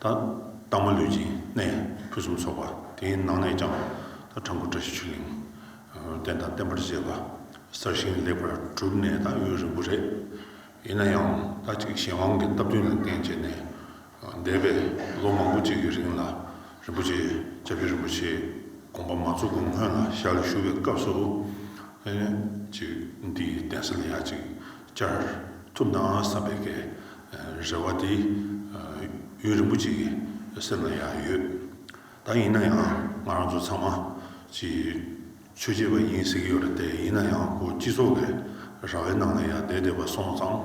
དྭངས་མ་ལུས་ཅན་ནས་ཕུན་སུམ་ཚོགས་པ། དེའི་ནང་ནས་ཀྱང་འཕྲང་སྐུ་བཀྲ་ཤིས་ཆོས་གླིང། བསྟན་དང་བསྟན་པར་བཅས་པ། གསར་བཞེངས་ལེགས་པར་གྲུབ་ནས་ད་ཡོད་རིང་པོ་རེད། ཡིན་ན་ཡང་ད་ཅིག་གཞན་དབང་གི་སྟབས་བསྟུན་ལ་བརྟེན་བྱས་ནས། འདས་པའི་ལོ་མང་པོ་གཅིག་གི་རིང་ལ་རིན་པོ་ཆེ་ལྕགས་ཀྱུ་རིན་པོ་ཆེའི་དགོངས་པ་མ་འཛུགས་གོང་སྔོན་ལ་ཞར་ལ་བཞུགས་པའི་སྐབས་སུ། ཅིག་འདིའི་གདན་ས་ལ་ཡང་ཅིག་བཅར་ཐུབ་ན་བསམ་པའི་གལ། རེ་བ་དེ་ཡུན་རིང་པོ་ཅིག་གི་སེམས་ལ་ཡང་ཡོད། ད་ཡིན་ན་ཡང་ང་རང་ཚོ་ཚང་མ་གྱིས་ཆོས་བྱེད་པ་ཡིན་ཟེར་གྱི་ཡོད་རེད་དེ་ཡིན་ན་ཡང་ཁོ་སྤྱི་ཚོགས་ཀྱི་ར་བའི་ནང་ལ་ཡང་བསྡད་བསྡད་པ་སོང་ཙང་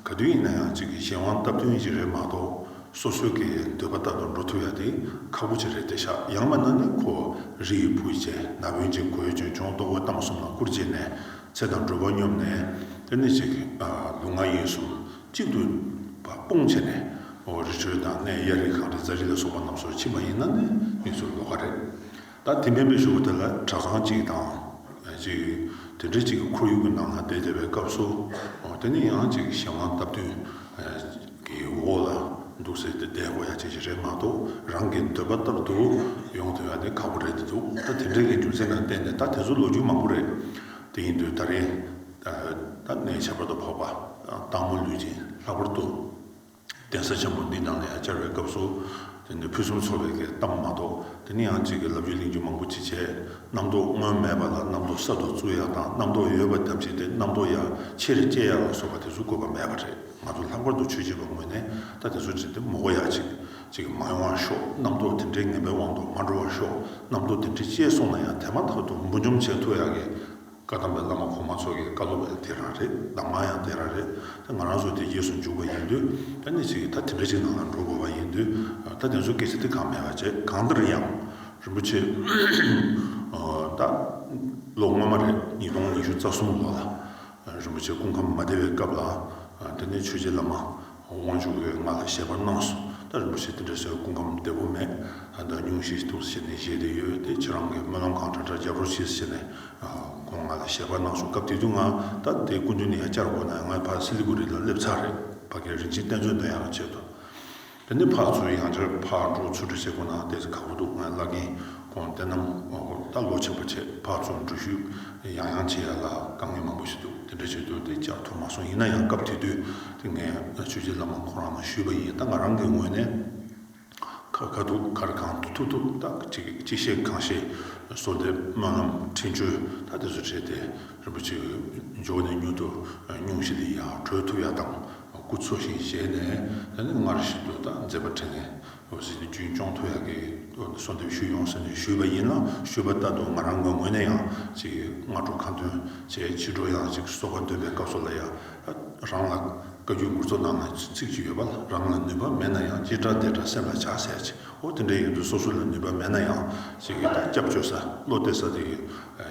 ག་དུས་ཡིན་ན་ཡང་གཅིག་གིས་གཞན་དབང་སྟབས་བསྟུན་ཞིག་རེད་མ་གཏོགས་སོ་སོའི་གི་འདོད་པ་ལྟར་དུ་འགྲོ་ཐུབ་ཡ་དེ་ཁག་པོ་ཅིག་རེད་དེ་ཤག་ཡང་མ་ན་ནི་ཁོ་རི་ཡི་བུ་བྱས་ན་བོན་གྱི་གོས་གྱོན་ཆུང་ལྟོ་གོས་བཏང་གསུམ་ལ་བསྐུར་རྗེས་ནས་ཚེ་དང་སྒྲུབ་པ་སྙོམས་ནས་དེ་ནི་ཅིག་ལུས་ངག་ཡིད་གསུམ། གཅིག་ཏུ་བ་སྤུངས་བྱས་ནས་འོ་རི་ཁྲོད་དང་སྣའི་གཡའ་རི་གངས་རི་རྫ་རི་ལ་སོགས་པ་རྣམས་སུ་ཕྱིན་པ་ཡིན་ན་ནི་མིག་ཚུར་ལོག་ག་རེད། ད་དེ་མེད་པའི་ཞོགས་དེ་ལ་གྲྭ་ཚང་གཅིག་དང། གཅིག། དེ་འདྲ་གཅིག་གི་ཁོར་ཡུག་གི་ནང་ལ་བསྡད་བསྡད་པའི་སྐབས་སུ། དེ་ནི་ཡང་གཅིག་གཞན་དབང་སྟབས་བསྟུན་གྱི་འོག་ལ་འདུག་ཟེར་ཏེ་བསྡད་འགོ་ཡ་ཆེ་ཞིག་རེད་མ་གཏོགས་རང་གི་འདོད་པ་ལྟར་དུ་ཡོང་ཐུབ་ཡ་ནི་ཁག་པོ་རེད་འདུག་ད་དེ་འདྲའི་གི་རྒྱུ་མཚན་ལ་བརྟེན་ནས་ད་དེ་ཚོ་ལོ་རྒྱུས་མང་པོ་རེད་དེ་ཡིན་དུས་ད་རིང་ཐབས་ནི་བྱ་བར་དོ་འཕགས་པ། སྟག་མོ་ལུས་ཅན་ལྷག་པར་བསྟོད། གདན་ས་ཆེན་པོ་འདི་ནང་ནས་བཅར་བའི་སྐབས་སུ། དེ་ནི་ཕུན་སུམ་ཚོགས་པའི་གཏམ་མ་གཏོགས་དེ་ནི་ཡང་གཅིག་གི་ལབ་རྒྱུ་གླེང་རྒྱུ་མང་པོ་ཅི་བྱས། རྣམ་རྟོག་སྔོན་མེད་པ་ལ་རྣམ་རྟོག་གསར་དུ་བཙུགས་ཡག་དང་རྣམ་རྟོག་ཡོད་པ་བསྡམས་བྱས་ཏེ་རྣམ་རྟོག་ཡག་ཕྱིར་སྐྱེ་ཡག་ལ་སོགས་པ་དེ་ཚོ་དགོས་པ་མེད་པ་རེད་ང་ཚོ་ལྷག་པར་དུ་ཆོས་བྱེད་པ་ངོས་ནས་ད་དེ་ཚོ་བྱེད་དེ་མོ་གོ་ཡག་ཅིག་ཅིག་མ་ཡོང་བར་ཤོག་རྣམ་རྟོག་དེ་འདྲའི་ངན་པའི་དབང་དུ་མ་འགྲོ་བར་ཤོག་རྣམ་རྟོག་དེ་འདྲས་སྐྱེས་སོང་ན་ཡང་དེ་མ་ཐག་ཏུ་འབུ་འཇོམས་བྱས་ཐུབ་ཡག་གི། བཀའ་གདམས་པའི་བླ་མ་གོང་མ་ཚོ་གི་བཀའ་སློབ་ཡང་དེ་རང་རེད་གདམས་ངག་ཡང་དེ་རང་རེད་ད་ང་རང་ཚོ་དེ་རྗེས་སུ་འཇུག་པ་ཡིན་དུས་ད་གནས་ཚུལ་གྱི་ད་དེ་འདྲ་ཞིག་ནང་ལ་འགྲོ་དགོས་པ་ཡིན་དུས་ད་དེ་ཚོ་སྐད་ཆ་དེ་གང་མེད་པ་བྱས་གང་ལྟར་ཡང་རིན་པོ་ཆེ་ད་ལོ་སྔོན་མ་རེད་ཉིས་སྟོང་ཉི་ཤུ་རྩ་གསུམ་ལོ་ལ་རིན་པོ་ཆེ་སྐུ་ཁམས་མ་བདེ་བའི་སྐབས་ལ་དེ་ནས་ཆོས་རྗེ་བླ་མ་དབང་ཕྱུག་འོད་ལྔ་ལ་བཞེད་པར་གནང་སོ། ད་རིན་པོ་ཆེ་དེ་འདྲ་ཟེར་བའི་སྐུ་ཁམས་བདེ་པོ་མེད། ད་ཉུང་ཤས་ཤིག་ཐུགས་སུ་བྱས་ནས་བཞེས་དེ་ཡོད་དེ་ཁྱེད་རང་གིས་སྨོན་ལམ་གང་འདྲ་འདྲ་རྒྱབ་རོགས་གྱིས་ཟེར་ནས་ཁོང་ང་ལ་བཞེད་པར་གནང་བྱུང་སྐབས་དེ་དུས་ང་ད་ལྟའི་སྐུ་མདུན་ནས་ཡང་བསྐྱར་འོང་ནས་ངའི་ཕར་སི་ལི་གུ་རི་ལ་སླེབས་ཚར་རེད་ཕ་རྒན་རིན་ཆེན་བསྟན་འཛོལ་འདི་ཡང་བྱེད་དོ། དེ་ནས་ཕར་ཚུར་ཡང་བསྐྱར་ཕར་འགྲོ་ཚུར་འགྲོ་བྱེད་དགོས་ན་དེ་ཚོ་ག་བུ་འདུག་ངའི་བླ་རྒན་ཁོང་བསྟན་ནམ་དབང་བསྐུར་ལྟ་ཀློག་ཆེན་པོ་བྱས་ཕར་ཚུར་འགྲུལ་བཞུད་ཡང་ཡང་བྱེད་ཡ་ལ་དཀའ་ངལ་མང་པོ་ཞིག་འདུག་དེ་འདྲ་བྱེད་དུས་དེ་ཅག་ཐུགས་མ་སོང་ཡིན་ན་ཡང་སྐབས་དེ་དུས་དེ་ངས་ཆོས་རྗེ་བླ་མ་ཁོང་རང་ལ་ཞུས་པ་ཡིན་ད་ང་རང་གི་ངོས་ནས་ཁ་ཁ་ཐུག་ཁར་གང་ཐུག་ཐུག་ཐུག་ད་ཅི་བཤད་གང་བཤད་བཟོ་དེ་སྨོན་ལམ་འཕྲིན་བཅོལ་ད་དེ་ཚོ་བྱས་ཏེ་རིན་པོ་ཆེ་འཇོག་ནས་མྱུར་དུ་སྙུང་གཞི་དེ་ཡང་གྲོལ་ཐུབ་ཡ་དང་སྐུ་འཚོ་ཞིང་གཞལ་ནས་ད་ནི་སྔར་བཞིན་དུ་ད་མཛད་པ་དྲན་ནས་བློ་གཟི་ནི་རྒྱུན་སྐྱོང་ཐོ་ཡག་གིས་གསོལ་འདེབས་ཞུས་ཡོང་ཟེར་ནས་ཞུས་པ་ཡིན་ལ་ཞུས་པ་ལྟར་དུ་ང་རང་ངོས་ངོས་ནས་ཡང་ཅིག་སྔ་དྲོ་ཁ་འདོན་བྱས་ཕྱི་དྲོ་ཡང་ཅིག་གསོལ་བ་འདོན་པའི་སྐབས་སུ་ལ་ཡ་རང་ལ་བཀའ་རྒྱུད་མགུར་ཚོ་ནང་ན་ཚིག་གཅིག་ཡོད་པ་ལ་རང་ལ་ནུས་པ་མེད་ན་ཡང་སྐྱིད་འདྲ་བདེ་འདྲ་སེམས་ལ་བྱ་ཟེར་ཅིག་ཨོ་དེ་འདྲའི་ཡོད་དུས་སོ་སོ་ལ་ནུས་པ་མེད་ན་ཡང་ཅིག་སྐྱབས་བཅོལ་ས་བློ་གཏད་ས་དེ་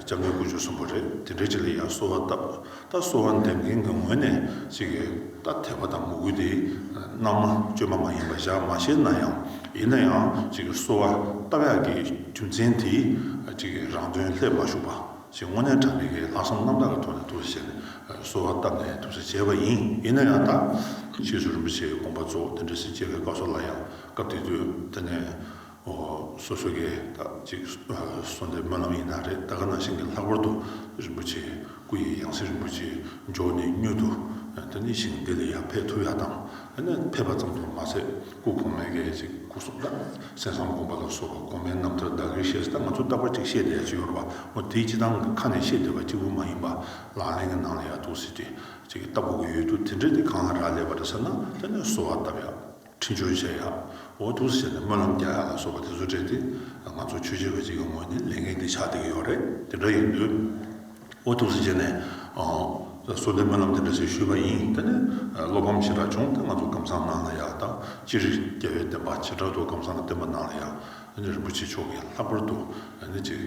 སྐྱབས་མགོན་དཀོན་མཆོག་གསུམ་པོ་རེད་དེ་འདྲའི་ཅིག་ལ་ཡ་གསོལ་བ་བཏབ་རྟ་གསོ་བ་འདེབས་མཁན་གྱི་ངོས་ནས་ཅིག་རྟ་ཐེག་པ་དང་མོ་རྒུད་དེ་རྣམས་མ་བཅོས་པ་མ་ཡིན་པ་བཞག་མ་ཤེས་ན་ཡང་ཡིན་ན་ཡང་ཅིག་གསོ་བ་རྟ་བྷྱ་ཀྱི་རྒྱུ་མཚན་དེས་ཅིག་རང་དོན་ལྷད་མ་ཞུགས་པ་ཅིག་དངོས་གནས་གྲངས་མེད་ཀྱི་ལྷག་བསམ་རྣམ་དག་གི་ཐོག་ནས་དུག་སེལ་བྱས་ནས་གསོ་བ་བཏབ་ནས་དུག་སེལ་བྱས་པ་ཡིན་ཡིན་ན་ཡང་ད། ཕྱིས་སུ་རིན་པོ་ཆེའི་དགོངས་པ་རྫོགས་ལྡན་བཀྲ་ཤིས་བཅས་པའི་བཀའ་སྲོལ་ལ་ཡང་སྐབས་དེ་དུས་དེ་ནས། སོ་སོ་གས་དག་ཅིག་གསོ་འདེབས་སྨོན་ལམ་ཡིན་ན་རེད་ད་ག་ནང་བཞིན་གྱི་ལྷག་པར་དུ་རིན་པོ་ཆེའི་སྐུ་ཡི་ཡང་སྲིད་རིན་པོ་ཆེའི་མཇོག་ནས་སྙུད་དུ་ད་ནི་ཞིང་འདི་ལས་ཡང་ཕེབས་ཐུབ་ཡག་དང་ན་ཕེབས་པ་ཙམ་དུ་མ་ཟད་སྐུ་གོང་མའི་གས་ཅིག་སྐུ་གསུང་ཐང་གསན་བསམ་དགོངས་པ་ལ་སོགས་པ་གོང་མའི་རྣམ་ཐར་བདག་གིར་བཤད་སྟངས་ང་ཚོ་ལྟ་བ་ཅིག་བཤད་བསྡད་ཀྱི་ཡོད་རེད་པ་འོ་དེ་སྤྱི་བཏང་གི་ཁ་ནས་བཤད་བསྡད་པ་གཅིག་པུ་མ་ཡིན་པ་ལག་ལེན་གྱི་ནང་ལ་ཡག་ཐུགས་སྲིད་ཅིག་ལྟ་དགོས་ཀྱི་ཡོད་དུས་དེ་འདྲས་དེ་གང་ལ་རག་ལས་པ་རེད་ཟེར་ན་ད་ནི་གསོ་བ་བཏབ་ཡག། འཕྲིན་སྦྱོར་བྱས་ཡག་འོ་ཐུག་ཟེར་ནས་སྨོན་ལམ་རྒྱག་ཡག་ལ་སོགས་པ་དེ་ཚོ་སྤྲད་དེ་ང་ཚོ་ཆོས་བྱེད་པ་གཅིག་གི་ངོས་ནས་ལས་འགན་འདི་ཆགས་བསྡད་ཀྱི་ཡོག་རེད་དེ་འདྲ་ཡིན་དུས་འོ་ཐུག་ཟེར་ནས་གསོལ་འདེབས་སྨོན་ལམ་དེ་འདྲ་ཞིག་ཞུས་པ་ཡིན་དེ་ནས་བློ་ཕམ་ཞེ་དྲག་བྱུང་དེ་ང་ཚོ་གམ་སང་གནང་ན་ཡག་དང་ཅི་རིགས་རྒྱལ་བའི་བསྟན་པ་བྱེ་བྲག་ཏུ་གམ་སང་ལ་བསྟན་པ་གནང་ལ་ཡག་རིན་པོ་ཆེ་མཆོག་གིས་ལྷག་པར་དུ་ནི་ཅིག་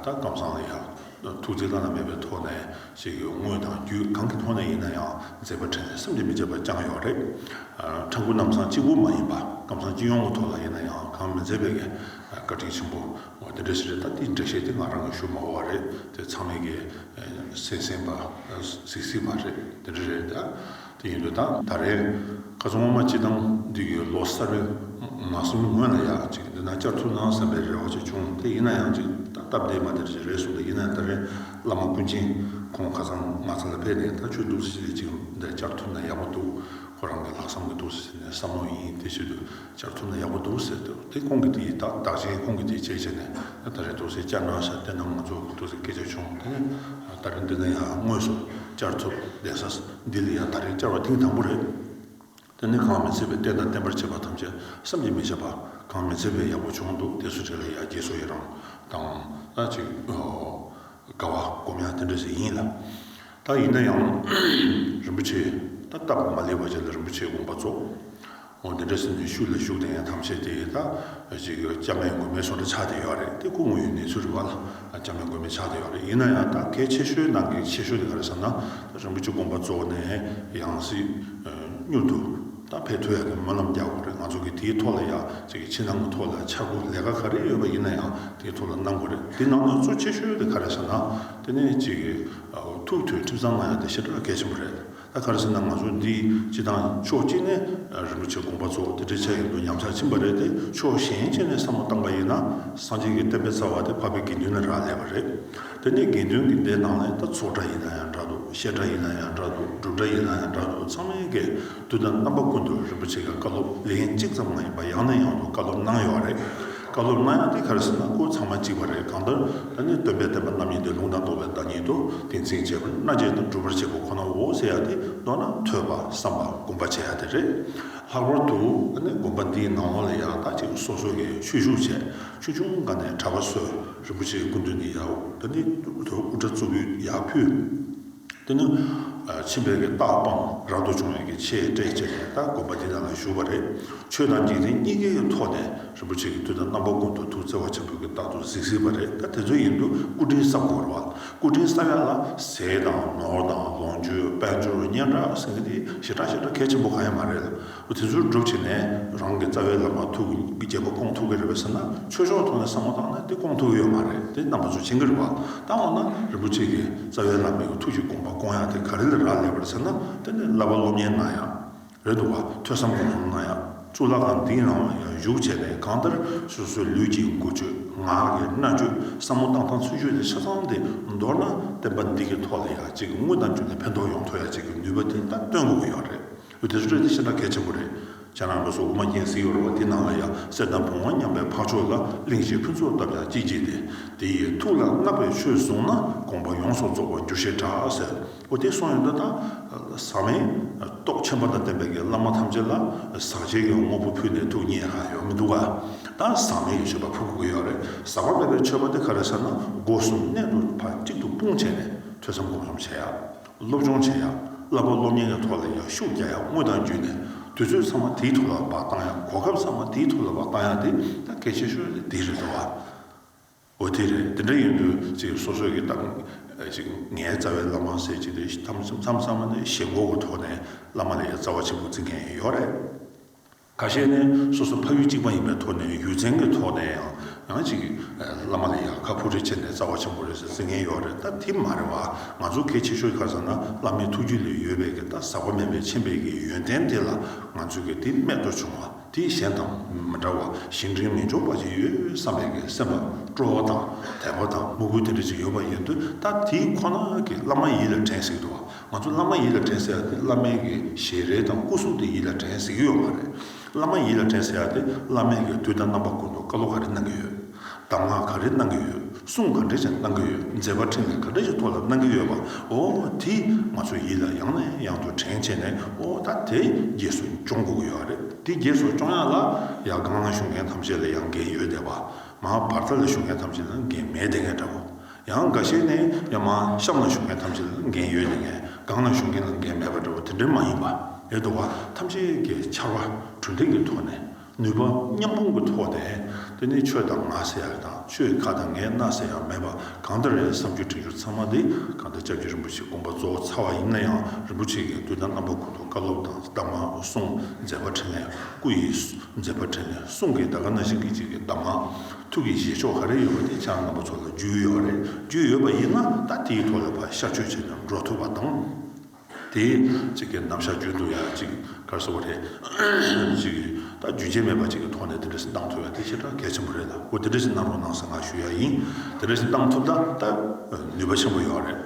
ད་གམ་སང་ལ་ཡག། ཐུགས་རྗེ་བླ་ན་མེད་པའི་ཐོག་ནས་ཞིག་ཡོད་དངོས་དང་བརྒྱུད་གང་གི་ཐོག་ནས་ཡིན་ན་ཡང་མཛད་པ་ཁྲིད་ནས་སེམས་ཀྱི་མི་བརྗེད་པ་བསྐྱངས་ཡོད་རེད། ཕྲན་བུ་རྣམས་སང་གཅིག་པུ་མ་ཡིན་པ་སྐམ་སང་སྤྱི་ཡོངས་ཀྱི་ཐོག་ལ་ཡིན་ན་ཡང་གང་མི་མཛད་པའི་གེ་བཀའ་དྲིན་ཆེན་པོ་དེ་འདྲ་ཞིག་རེད་ད་འདིའི་འགྲེལ་བཤད་དེ་ང་རང་གི་ཞུ་མ་བོ་བ་རེད་དེ་ཚང་མས་གེ་སེམས་སེམས་པ་གཟིགས་གཟིགས་བ་རེད་དེ་འདྲ་རེད་ད། དེ་ཡིན་དུས་ད་ད་རེས་ཁ་ཚོན་ངོ་མ་ཅི་བཏང་འདི་གི་ལོ་གསར་པའི་མ་གསུམ་སྔོན་ལ་ཡག་ཅིག་འདི་ན་བསྐྱར་ཚུར་གནང་བསམ་པའི་རེ་བ་ཅིག་བྱུང་དེ་ཡིན་ན་ཡང་ཅིག་སྟབས་བདེ་མ་དེར་ཅིག་རེད་གསུངས་ཏེ་ཡིན་ན་ད་རེས་བླ་མ་ཀུན་མཁྱེན་ཁོང་ཁ་ཚང་ང་ཚང་ལ་ཕེབས་ནས་ད་ཆོས་གདུགས་གསེར་ཞལ་གཅིག་འདི་བསྐྱར་ཐོབ་ན་ཡག་པོ་འདུག་ཁོ་རང་གི་ལག་བསམ་གི་གདུགས་གསེར་ཞལ་ནས་བསམ་བློ་ཡིན་དེ་ཕྱིར་དུ། ལྕགས་ཐུམ་ན་ཡག་པོ་འདུག་ཟེར་འདུག་དེ་ཁོང་གི་དེ་ཡིས་བདག་བདག་ཅེས་ཁོང་གི་དེ་བྱས་བྱས་ནས་ད་རེད་འདུག་ཟེར་བསྐྱར་ནང་ཞག་བདེ་ནང་མ་འཛུགས་འདུག་ཟེར་སྐད་ཆ་བྱུང་དེ་ནས་ད་རེ་འདི་ན་ཡང་དངོས་སུ་བསྐྱར་ཐུབ་བདེ་ས་འདི་ལ་ཡང་ད་རེ་བསྐྱར་བ་ཐེངས་དང་པོ་རེད། དེ་ནས་གང་མི་ཚེ་བའི་བསྟན་དང་བསྟན་པར་བྱེད་པ་ཐམས་ཅད་བསམ་གྱིས་མི་ཁྱབ་པ་གང་མི་ཚེ་བའི་ཡག་པོ་བྱུང་འདུག་དེ་སུ་རེད་ལ་ཡ་རྒྱལ་སོ་ཡི་རང་དང་ད་ཅིག་དགའ་བ་སྒོམ་ཡང་དེ་འདྲ་ཞིག་ཡིན་ལ་ད་ཡིན་ན་ཡང་རིན་པོ་ཆེ་ད་སྟབས་མ་ལེགས་པ་བྱས་ལ་རིན་པོ་ཆེ་དགོངས་པ་རྫོགས་ཁོང་འདི་འདྲ་སེམས་ཀྱི་ཤུགས་ལ་ཞུགས་ཏེ་ཡང་ཐམས་ཅད་དེ་ད་ཅིག་སྐྱབས་མེད་མགོན་མེད་སོགས་འདྲ་ཆགས་བསྡད་ཡོད་རེད་དེ་སྐུ་ངོ་ཡི་གནས་ཚུལ་རེད་བ་ལ་སྐྱབས་མེད་མགོན་མེད་ཆགས་བསྡད་ཡོད་རེད་ཡིན་ན་ཡང་ད་གལ་ཆེ་ཤོས་ནང་གི་ཆེ་ཤོས་དེ་ག་རེད་བསམ་ན་ད་རིན་པོ་ཆེ་དགོངས་པ་གཙོ་བོ་ནས་ཡང་སྲིད་མྱུར་དུ་ད་ཕེབས་ཐུབ་ཡག་གི་སྨོན་ལམ་རྒྱག་དགོས་རེད་ང་ཚོ་གི་དེའི་ཐོག་ལ་ཡག་ཅིག་གི་ཕྱི་ནང་གི་ཐོག་ལ་ཆ་དགོས་ལས་ཀ་ག་རེ་ཡོད་པ་ཡིན་ན་ཡང་དེའི་ཐོག་ལ་གནང་དགོས་རེད་དེ་ནང་ན་གཙོ་ཆེ་ཤོས་དེ་ག་རེད་བསམ་ན་དེ་ནས་ཅིག་ཐུགས་མཐུན་ཁྲིམས་གཙང་མ་ཡག་དེ་ཤི་ད་གལ་ཆེན་པོ་རེད། ད་ག་རེ་བྱས་ན་ང་ཚོ་འདི་སྤྱི་དང་ཕྱོགས་གཅིག་ནས་རིན་པོ་ཆེ་དགོངས་པ་ཚོ་དེ་འདྲའི་ཆ་ཡིན་དུས་ཉམས་ཆག་ཕྱིན་པ་རེད་དེ་ཕྱོགས་གཞན་གཅིག་ནས་བསམ་བློ་བཏང་པ་ཡིན་ན་སངས་རྒྱས་ཀྱི་བསྟན་པའི་རྩ་བ་དེ་འཕགས་པའི་དགེ་འདུན་ལ་རག་ལས་པ་རེད། དེ་ནས་དགེ་འདུན་གྱི་སྡེ་ནང་ནས་ད་ཚོགས་གྲྭ་ཡིན་ན་ཡང་འདྲ་འདུག་བཤད་གྲྭ་ཡིན་ན་ཡང་འདྲ་འདུག་སྒྲུབ་གྲྭ་ཡིན་ན་ཡང་འདྲ་འདུག་ཚང་མའི་གས་འདུན་དང་རྣམ་པ་ཀུན་ཏུ་རིན་པོ་ཆེ་ཀྱི་བཀའ་སློབ་ལན་གཅིག་ཙམ་ང་ཡིན་པ་ཡང་ནས་ཡང་དུ་བཀའ་སློབ་གནང་ཡོད་རེད། བཀའ་སློབ་གནང་ཡང་དེ་ག་རེ་ཟེར་ན་སྐོར་ཚང་མ་གཅིག་པ་རེད་གང་ལྟར་ད་ནི་སྟོན་པའི་བསྟན་པ་རྣམ་གཉིས་ཏེ་ལུང་དང་རྟོགས་པའི་བདག་ཉིད་དུ་དེ་འཛིན་བྱེད་པར་མནའ་བཅད་དང་སྒྲུབ་པར་བྱེད་པ་ཁོ་ནའོ་ཟེར་ཡག་དེ་མདོར་ན་ཐོས་པ་བསམ་པ་སྒོམ་པ་བྱེད་ཡག་དེ་རེད། ལྷག་པར་དུ་ད་ནི་དགོན་པ་འདིའི་ནང་ལོགས་ལ་ཡག་རྟགས་གཅིག་སོ་སོ་ནས་ཆོས་ཞུགས་བྱས་ཆོས་ཆུང་འགའ་ནས་གྲྭ་པ་བསོད་རིན་པོ་ཆེའི་སྐུ་མདུན་ནས་ཡག་ད་ནི་དུ་དགོན་པ་དགུ་གྲྭ་གཙུག་ཕུད་ཡག་ཕུད། འདི་ནི་ཕྱི་འབྲེལ་གྱི་རྟགས་དཔང་རག་ཏུ་བྱུང་བའི་གི་ཆེའི་སྤྲས་བཅས་ནས་ལྟ་དགོན་པ་འདི་ནང་ལ་བཞུགས་པ་རེད། ཆོས་དང་འཇིག་རྟེན་གཉིས་ཀའི་ཐོག་ནས་རིན་པོ་ཆེ་གི་མདུན་ན་རྣམ་པ་ཀུན་ཏུ་ཐུགས་བརྩེ་བ་ཆེན་པོས་གི་རྟག་ཏུ་གཟིགས་གཟིགས་པ་རེད་ད་དེ་ཚོ་ཡིན་དུས་སྐུ་དྲིན་བསབ་དགོས་རོགས། སྐུ་དྲིན་བསབ་ཡག་ལ་ཟས་དང་ནོར་དང་ལོངས་སྤྱོད་དཔལ་འབྱོར་སྙན་གྲགས་ཟེར་མཁན་དེ་ཞེ་དྲག་ཞེ་དྲག་གལ་ཆེན་པོ་གང་ཡང་མ་རེད་ལ། བུ་དེ་ཚོར་སྒྲུབ་བྱེད་ནས་རང་གི་རྩ་བའི་ལག་པ་ཐུག་གི་རྒྱལ་པོ་སྐོང་ཐུབ་ཀྱི་རེད་པ་ཟེར་ན་ཆོས་ཕྱོགས་ཐོག་ནས་བསམ་བློ་བཏང་ན་དེ་སྐོང་ཐུབ་ཀྱི་ཡོད་མ་རེད་དེ་རྣམ་པ་ཚོ་ཅི་འགར་བ་བཏང་བ་ན་རིན་པོ་ཆེ་གི་རྩ་བའི་ལག་པས་གི་ཐུག་གི་དགོངས་པ་སྐོང་ཡག་དེ་ག་རེ་ལ་རག་ལས་པར་ཟེར་ན་དེ་ནི་བསླབ་པ་སློབ་གཉེར་གནང་ཡག་རེད་འདུག་བ་ཐོས་བསམ་སྒོམ་གསུམ་གནང་ཡག་གཙུག་ལག་ཁང་འདིའི་ནང་ལ་ཡང་བཞུགས་བྱས་པས་གང་ལྟར་སོ་སོའི་ལུས་ཀྱི་མགུ་བཅོས་ངག་གི་རྣ་བཅོས་བསམ་བློ་བཏང་སྟངས་ཚུལ་བཅོས་དེ་ཆ་ཚང་དེ་མདོར་ན་བསྟན་པ་འདི་གི་ཐོག་ལ་ཡག་ཅིག་གི་དངུལ་དང་རྒྱུ་ལ་ཕན་ཐོག་ཡོང་ཐུབ་ཡག་ཅིག་གི་ནུས་པ་དེ་ད་སྟོན་དགོས་ཀྱི་ཡོད་རེད། བུ་དེ་ཚོ་ཁྲོད་དེ་ཤིན་ཏུ་གལ་ཆེན་པོ་རེད། བྱས་ན་ལོ་སོ་དགུ་མ་སྐྱེངས་ཟིག་ཡོད་རེད་བ་དེ་ནང་ལ་ཡང་གསེར་དང་བུང་བ་མཉམ་པའི་འཕགས་མཆོག་ལ་གླིང་བཞི་ཕུན་ཚོགས་བཏབ་ཀྱང་ཅིག་ཅིག་སྟེ། དེ་ཡི་ཐུགས་ལ་བསྔགས་པའི་ཆོས་བཟུང་ན་དགོངས་པ་ཡོངས་སུ་རྫོགས་པར་འགྱུར་ཞེས་གྲགས་ཟེར། བུ་དེ་སོང་ཡོད་ད་ལྟ། ཟག་མེད། སྟོབས་ཆེན་པོ་དང་ལྡན་པའི་དགེ་བླ་མ་ཐམས་ཅད་ལ་ཟག་བྱེད་ཀྱི་དངོས་པོ་ཕུལ་ནས་ཐུགས་མཉེས་གང་ཡོད་མི་འདུག་ག། ད་ཟག་མེད་ཞེས་པ་ཕུལ་དགོས་ཀྱི་ཡོད་རེད། ཟག་པ་མེད་པའི་མཆོད་པ་དེ་ག་རེ་ཟེར་ན་སྒོ་གསུམ་གནད་དུ་བར་གཅིག་ཏུ་སྤུངས་བྱས་ནས་ཐོས་བསམ་སྒོམ་གསུམ་བྱས་ཡ། སློབ་སྦྱོང་བྱེད་ཡག་བསླབ་པ་སློབ་གཉེར་གྱི་ཐོག་ལ་ཡང་ཤུགས་རྒྱག་ཡག་དངོས་དང་བརྒྱུད་ནས་དུས་ཚོད་ཚང་མ་དེའི་ཐོག་ལ་བ་གཏང་ཡག་གོ་སྐབས་ཚང་མ་དེའི་ཐོག་ལ་བ་གཏང་ཡག་དེ་ད་གལ་ཆེ་ཤོས་ནི་དེ་རེད་འདུག་བ། འོ་དེ་རེད་དེ་འདྲ་ཡིན་དུས་ཅིག་སོ་སོས་ཀྱི་གཏམ་ཅིག་ངའི་རྩ་བའི་བླ་མ་ཟེར་གྱི་དེ་གཏམ་ཚང་མ་ནི་ཞེ་འགོག་གི་ཐོག་ནས་བླ་མ་ལས་ཀྱི་རྩ་བ་ཆེན་པོ་འཛིན་མཁན་ཡོད་རེད། ཁ་ཤས་ནི་སོ་སོ་ཕ་ཡུལ་གཅིག་མ་ཡིན་པའི་ཐོག་ནས་ཡུལ་ཚན་གྱི་ཐོག་ནས་ཡང་ཡང་ཅིག་བླ་མ་ལ་ཡང་ཁ་ཕོ་ཁྲེལ་བྱས་ནས་རྩ་བ་ཆེན་པོ་རེད་ཟེར་ཟིན་མཁན་ཡོད་རེད་ད་དེ་མ་རེད་བ། ང་ཚོ་གལ་ཆེ་ཤོས་ཁ་ས་ན་བླ་མའི་ཐུགས་རྒྱུད་ལས་ཡོལ་བས་ཀྱི་ད་ཟག་པ་མེད་པའི་ཆེན་པས་ཀྱི་ཡོན་ཏན་དེ་ལ་ང་ཚོས་ཀྱི་དེ་སྨད་དུ་བྱུང་བ་དེ་གཞན་དང་མི་འདྲ་བ་ཞིང་བྲན་མི་འཇོག་པ་ཅིག་ཡོད་བསམ་པས་ཀྱི་སེམས་པ་སྤྲོ་བ་དང་དད་པ་དང་དམུ་རྒོད་དེ་འདྲ་ཅིག་ཡོད་པ་ཡིན་དུས་ད་དེ་ཁོ་ན་གྱི་བླ་མ་ཡིད་ལ་དྲན་ཟིག་འགྲོ་བ་ང་ཚོ་བླ་མ་ཡིད་ལ་དྲན་ཟེར་ཡག་དེ་བླ་མའི་གི་ཞལ་རས་དང་སྐུ་གཟུགས་དེ་ཡིད་ལ་དྲན་ཟེར་གྱི་ཡོད་མ་རེད། བླ་མ་ཡིད་ལ་དྲན་ཟེར་ཡག་དེ་བླ་མའི་གི་དུས་ད་རྣམ་པ་ཀུན་ཏུ་བཀའ་སློབ་ག་རེ་གནང་གི་ཡོད། གདམས་ངག་ག་རེ་གནང་གི་ཡོད་གསུང་ག་འདྲེ་ཞིག་གནང་གི་ཡོད་མཛད་པ་ཕྲིན་ལས་ག་འདྲེ་ཞིག་ཐོག་ལ་གནང་གི་ཡོད་པ་འོ་དེ་ང་ཚོ་ཡིད་ལ་ཡང་ནས་ཡང་དུ་དྲན་བྱས་ནས་འོ་ད་དེ་རྗེས་སུ་སྐྱོང་དགོས་གི་ཡོད་རེད། དེ་རྗེས་སུ་སྐྱོང་ཡག་ལ་ཡག་སྒང་ལ་ཞུགས་མཁན་ཐམས་ཅད་ལ་ཡང་འགན་ཡོད་བསྡད་པ་མ་བར་ད་ལ་ཞུགས་མཁན་ཐམས་ཅད་ལ་འགན་མེད་བསྡད་མཁན་འདྲ་བོ། ཡང་འགའ་ཤས་ནི་ཡང་མ་ཤ་མ་ཞུ་མཁན་ཐམས་ཅད་ལ་འགན་ཡོད་ནི་ངས་སྒང་ན་ཞུ་མཁན་ལ་འགན་མེད་པ་འདྲ་བོ་དེ་འདྲ་མ་ཡིན་པ། ཡོད་དོ་བ་ཐམས་ཅད་ཀྱི་ཕྱར་བ་གྲུ་འདེགས་ཀྱི་ཐོག་ནས་ནུས་པ་མཉམ་སྤུངས་ཀྱི་ཐོག་ནས་དེ་ནི་ཆོས་དང་ང་ཟེར་ཡག་དང་ཆོས་ཁ་དང་ངའི་སྣ་ཟེར་ཡག་མེད་པ་གང་ལྟར་རེད་བསམ་རྒྱུ་དྲན་རྒྱུ་ཚང་མ་འདི་གང་ལྟར་ལྕགས་ཀྱུ་རིན་པོ་ཆེ་དགོངས་པ་རྫོགས་ཚར་བ་ཡིན་ན་ཡང་རིན་པོ་ཆེ་གི་མདུན་ན་རྣམ་པ་ཀུན་ཏུ་བཀའ་སློབ་དང་གདམས་ངག་གསུངས་མཛད་པ་དྲན་ནས་སྐུ་ཡི་མཛད་པ་དྲན་ནས་གསུང་གི་ད་ག་ན་ཞིག་གི་གཅིག་གི་གདམས་ངག། ཐུགས་ཀྱི་རྗེས་ཕྱོགས་ག་རེ་ཡོད་པ་དེ་ཅག་ནང་པ་ཚོ་ལ་རྒྱུས་ཡོད་རེད་རྒྱུས་ཡོད་པ་ཡིན་ན་ད་དེའི་ཐོག་ལ་བཤགས་བཅོས་བྱས་ན་འགྲོ་ཐུབ་པ་དང། དེ་གཅིག་གི་གནམ་ཞག་རྒྱུན་དུ་ཡང་གཅིག་གར་བཟོ་བ་རེད། གཅིག་ད་རྒྱུན་ཆད་མེད་པ་གཅིག་གི་ཐོག་ནས་དེ་འདྲ་ཞིག་གནང་ཐུབ་ཡ་དེ་ཆེས་གྲགས་གལ་ཆེན་པོ་རེད་ལ་ཁོ་དེ་འདྲ་ཞིག་གནང་རོགས་གནང་ཟེར་ང་ཞུ་ཡ་ཡིན་དེ་འདྲ་ཞིག་གནང་ཐུབ་ད་ད་ནུས་པ་ཆེན་པོ་ཡོད་རེད།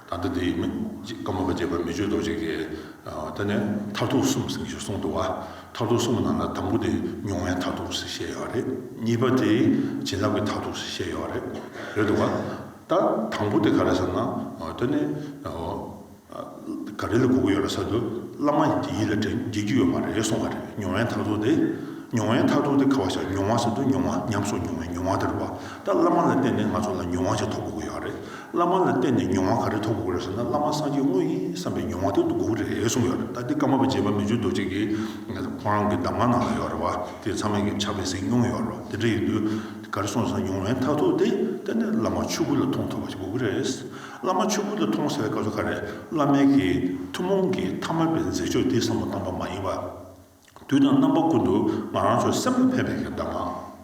ད་ལྟ་དེ་ཡིན་མིན་གྱི་བཀའ་མོལ་བ་རྒྱས་པར་མི་བརྗོད་དོགས་བྱེད་ཀྱི། ད་ནས་མཐར་ཐུག་གསུམ་ཟེར་གྱི་བྱུང་སོང་འདུག་བ། མཐར་ཐུག་གསུམ་ནང་ན་དང་པོ་དེ་མྱོང་བའི་མཐར་ཐུག་ཟེར་བཤད་ཡོད་བ་རེད། གཉིས་པ་དེ་བྱིན་རླབས་ཀྱི་མཐར་ཐུག་ཟེར་བཤད་ཡོད་བ་རེད། རེད་འདུག་བ། ད་དང་པོ་དེ་ག་རེད་བསམ་ན། ད་ནས་ག་རེ་ལ་གོ་གི་ཡོད་ར་ས་དུ་བླ་མ་དེ་ཡིད་ལ་དྲན་བགྱིད་ཀྱི་ཡོད་མ་རེད་གསུང་བ་རེད་མྱོང་བའི་མཐར་ཐུག་དེ། མྱོང་བའི་མཐར་ཐུག་དེ་ག་བ་ཞག་མྱོང་བ་ཟེར་དུ་མྱོང་བ་ཉམས་སུ་མྱོང་བའི་མྱོང་བ་དེ་རེད་བ། ད་བླ་མ་ལ་བརྟེན་ནས་ང་ཚོ་ལ་མྱོང་བ་ཞིག་ཐོབ་དགོས་ཀྱི་ཡོད་རེད། བླ་མ་ལ་བསྟེན་ནས་མྱོང་བ་ག་རེ་ཐོབ་དགོས་རེད་ཟེར་ན་བླ་མ་སངས་རྒྱས་དངོས་ཡིན་བསམ་པའི་མྱོང་བ་དེ་ཐོབ་དགོས་རེད་གསུངས་ཡོད་རེད་ད་འདི་ཀརྨ་པ་རྗེ་པད་མ་ཆོས་རྡོ་རྗེ་གིས་ཁོང་རང་གི་གདམས་ངག་ནང་ལ་ཡོད་རེད་བ་དེ་ཚང་མས་ཀྱང་ཕྱག་ལེན་ཟིན་མྱོང་ཡོད་རེད་དེ་འདྲ་ཡིན་དུས་དེ་ག་རེ་གསུངས་ཟེར་ན་མྱོང་བའི་མཐར་ཐུག་དེ་གཏན་ནས་བླ་མ་ཆོས་སྐུ་ལ་མཐོང་ཐུབ་པ་ཞིག་དགོས་ཀྱི་རེད། བླ་མ་ཆོས་སྐུ་ལ་མཐོང་ཟེར་བའི་སྐབས་སུ་ག་རེ་བླ་མའི་གིས་ཐུན་མོང་གི་མཐའ་མ་པའི་མཛད་ཕྱོགས་འདི་བསམ་བློ་བཏང་པ་མ་ཡིན་བ། དུས་དང་རྣམ་པ་ཀུན་ཏུ་ང་རང་ཚོའི་སེམས་ལ་ཕན་པའི་གདམས་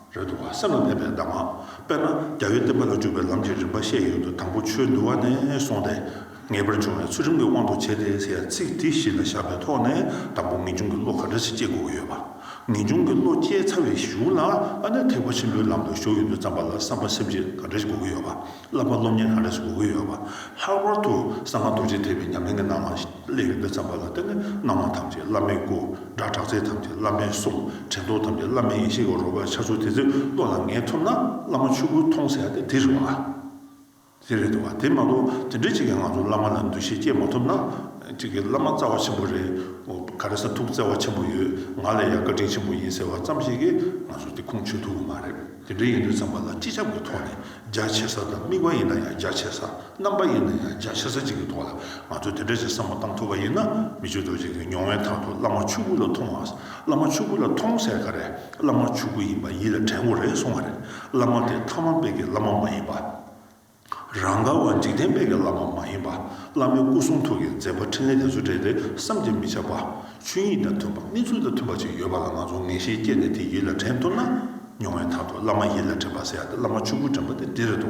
ངག་རེད་འདུག་ག་སེམས་ལ་ཕན་པའི་གདམས་ངག་དཔེར་ན་རྒྱ་བོད་བསྟན་པ་ལ་འཇུག་པའི་ལམ་གྱི་རིམ་པ་བཤད་ཡོད་དུ་དང་པོ་ཆོས་འདུལ་བ་ནས་སོང་སྟེ་ངེས་པར་འབྱུང་བའི་ཚུལ་ཁྲིམས་ཀྱི་དབང་དུ་བྱས་ཏེ་ཟེར་ཚིག་དེ་བཞི་ལ་བཞག་པའི་ཐོག་ནས་དང་པོ་ངེས་འབྱུང་གི་བློ་ག་འདྲ་ཞིག་སྐྱེ་དགོས་ཀྱི་ཡོད་པ་ངེས་འབྱུང་གི་བློ་སྐྱེ་ཚར་བའི་གཞུག་ལ་ཨ་ནེ་ཐེག་པ་ཆེན་པོའི་ལམ་དུ་ཞུགས་ཡོད་དུས་བརྩམས་པ་ལ་བསམ་པ་སེམས་བསྐྱེད་ག་འདྲ་ཞིག་དགོས་ཀྱི་ཡོད་པ། བསླབ་པ་སློབ་གཉེར་གང་ལེགས་སུ་དགོས་ཀྱི་ཡོད་པ། ལྷག་པར་དུ་གསང་སྔགས་རྡོ་རྗེ་ཐེག་པའི་ཉམས་ལེན་གྱི་སྣང་བ་ལས་ཡོན་ཏན་བརྩམས་པ་ལ་བརྟེན་ནས་སྣང་བ་ཐམས་ཅད་བླ་མའི་སྐུ། སྒྲ་གྲགས་ཚད་ཐམས་ཅད་བླ་མའི་གསུང། དྲན་རྟོག་ཐམས་ཅད་བླ་མའི་ཡེ་ཤེས་ཀྱི་རོལ་པར་འཆར་ཚུལ་དེ་ཚོའི་བློ་ལ་ངེས་ཐུབ་ན་བླ་མ་ཆོས་སྐུའི་མཐོང་གསལ་དེ་དེ་རེད་བ། དེ་རེད་འདུག་བ་དེ་མ་གཏོགས་དེ་འདྲའི་ཅིག་གིས་ང་ཚོ་བླ་མ་ལ་འདུ་ཤེས་བསྐྱེད་མ་ཐུབ་ན། ཅིག་གིས་བླ་མ་རྩ་བ་ཆེན་པོ་རེད། ག་རེ་ས་ཐུགས་བརྩེ་བ་ཆེན་པོ་ཡོད་ང་ལ་ཡང་བཀའ་དྲིན་ཆེན་པོ་ཡིན་ཟེར་བ་ཙམ་ཞིག་གིས་ང་ཚོར་དེ་ཁུངས་ཆོད་ཐུབ་ཀྱི་མ་རེད། དེ་འདྲ་ཡིན་དུས་ཚང་མ་ལ་སྤྱི་ཁྱབ་ཀྱི་ཐོག་ནས་རྒྱ་ཆེ་ས་དང་དམིགས་པ་ཡིན་ན་ཡང་རྒྱ་ཆེ་ས་རྣམ་པ་ཡིན་ན་ཡང་རྒྱ་ཆེ་ས་གཅིག་གི་ཐོག་ལ་ང་ཚོས་དེ་འདྲ་ཞིག་བསམ་བློ་བཏང་ཐུབ་པ་ཡིན་ན་མི་ཆོས་རྡོ་རྗེ་གི་མྱོང་བའི་ཐང་དུ་བླ་མ་ཆོས་སྐུ་ལ་མཐོང་བ་བླ་མ་ཆོས་སྐུ་ལ་མཐོང་གསལ་ག་རེ་བླ་མ་ཆོས་སྐུ་ཡིན་པ་ཡིད་ལ་དྲན་དགོས་རེད་གསུང་བ་རེད་བླ་མ་དེ་ཐ་མ་དཔེ་གི་བླ་མ་མ་ཡིན་པ། རང་ག་བ་འཇིག་རྟེན་དཔལ་གྱི་བླ་མ་མ་ཡིན་པ། བླ་མའི་སྐུ་གསུང་ཐུགས་ཀྱི་མཛད་པ་ཕྲིན་ལས་དེ་ཚོ་བྲལ་ཏེ་བསམ་གྱིས་མི་ཁྱབ་པ། ཆོས་ཉིད་དང་མཐུན་པ་གནས་ཚུལ་དང་མཐུན་པ་ཅིག་ཡོད་པ་ལ་ང་ཚོ་ངེས་ཤེས་སྐྱེས་ནས་དེ་ཡིད་ལ་དྲན་ཐུབ་ན། མྱོང་བའི་ཐར་ཐོར་བླ་མ་ཡིད་ལ་དྲན་པ་ཟེར་ཡག་སྟེ་བླ་མ་ཆོས་སྐུར་དྲན་པ་དེ་འདི་རེད་དོ།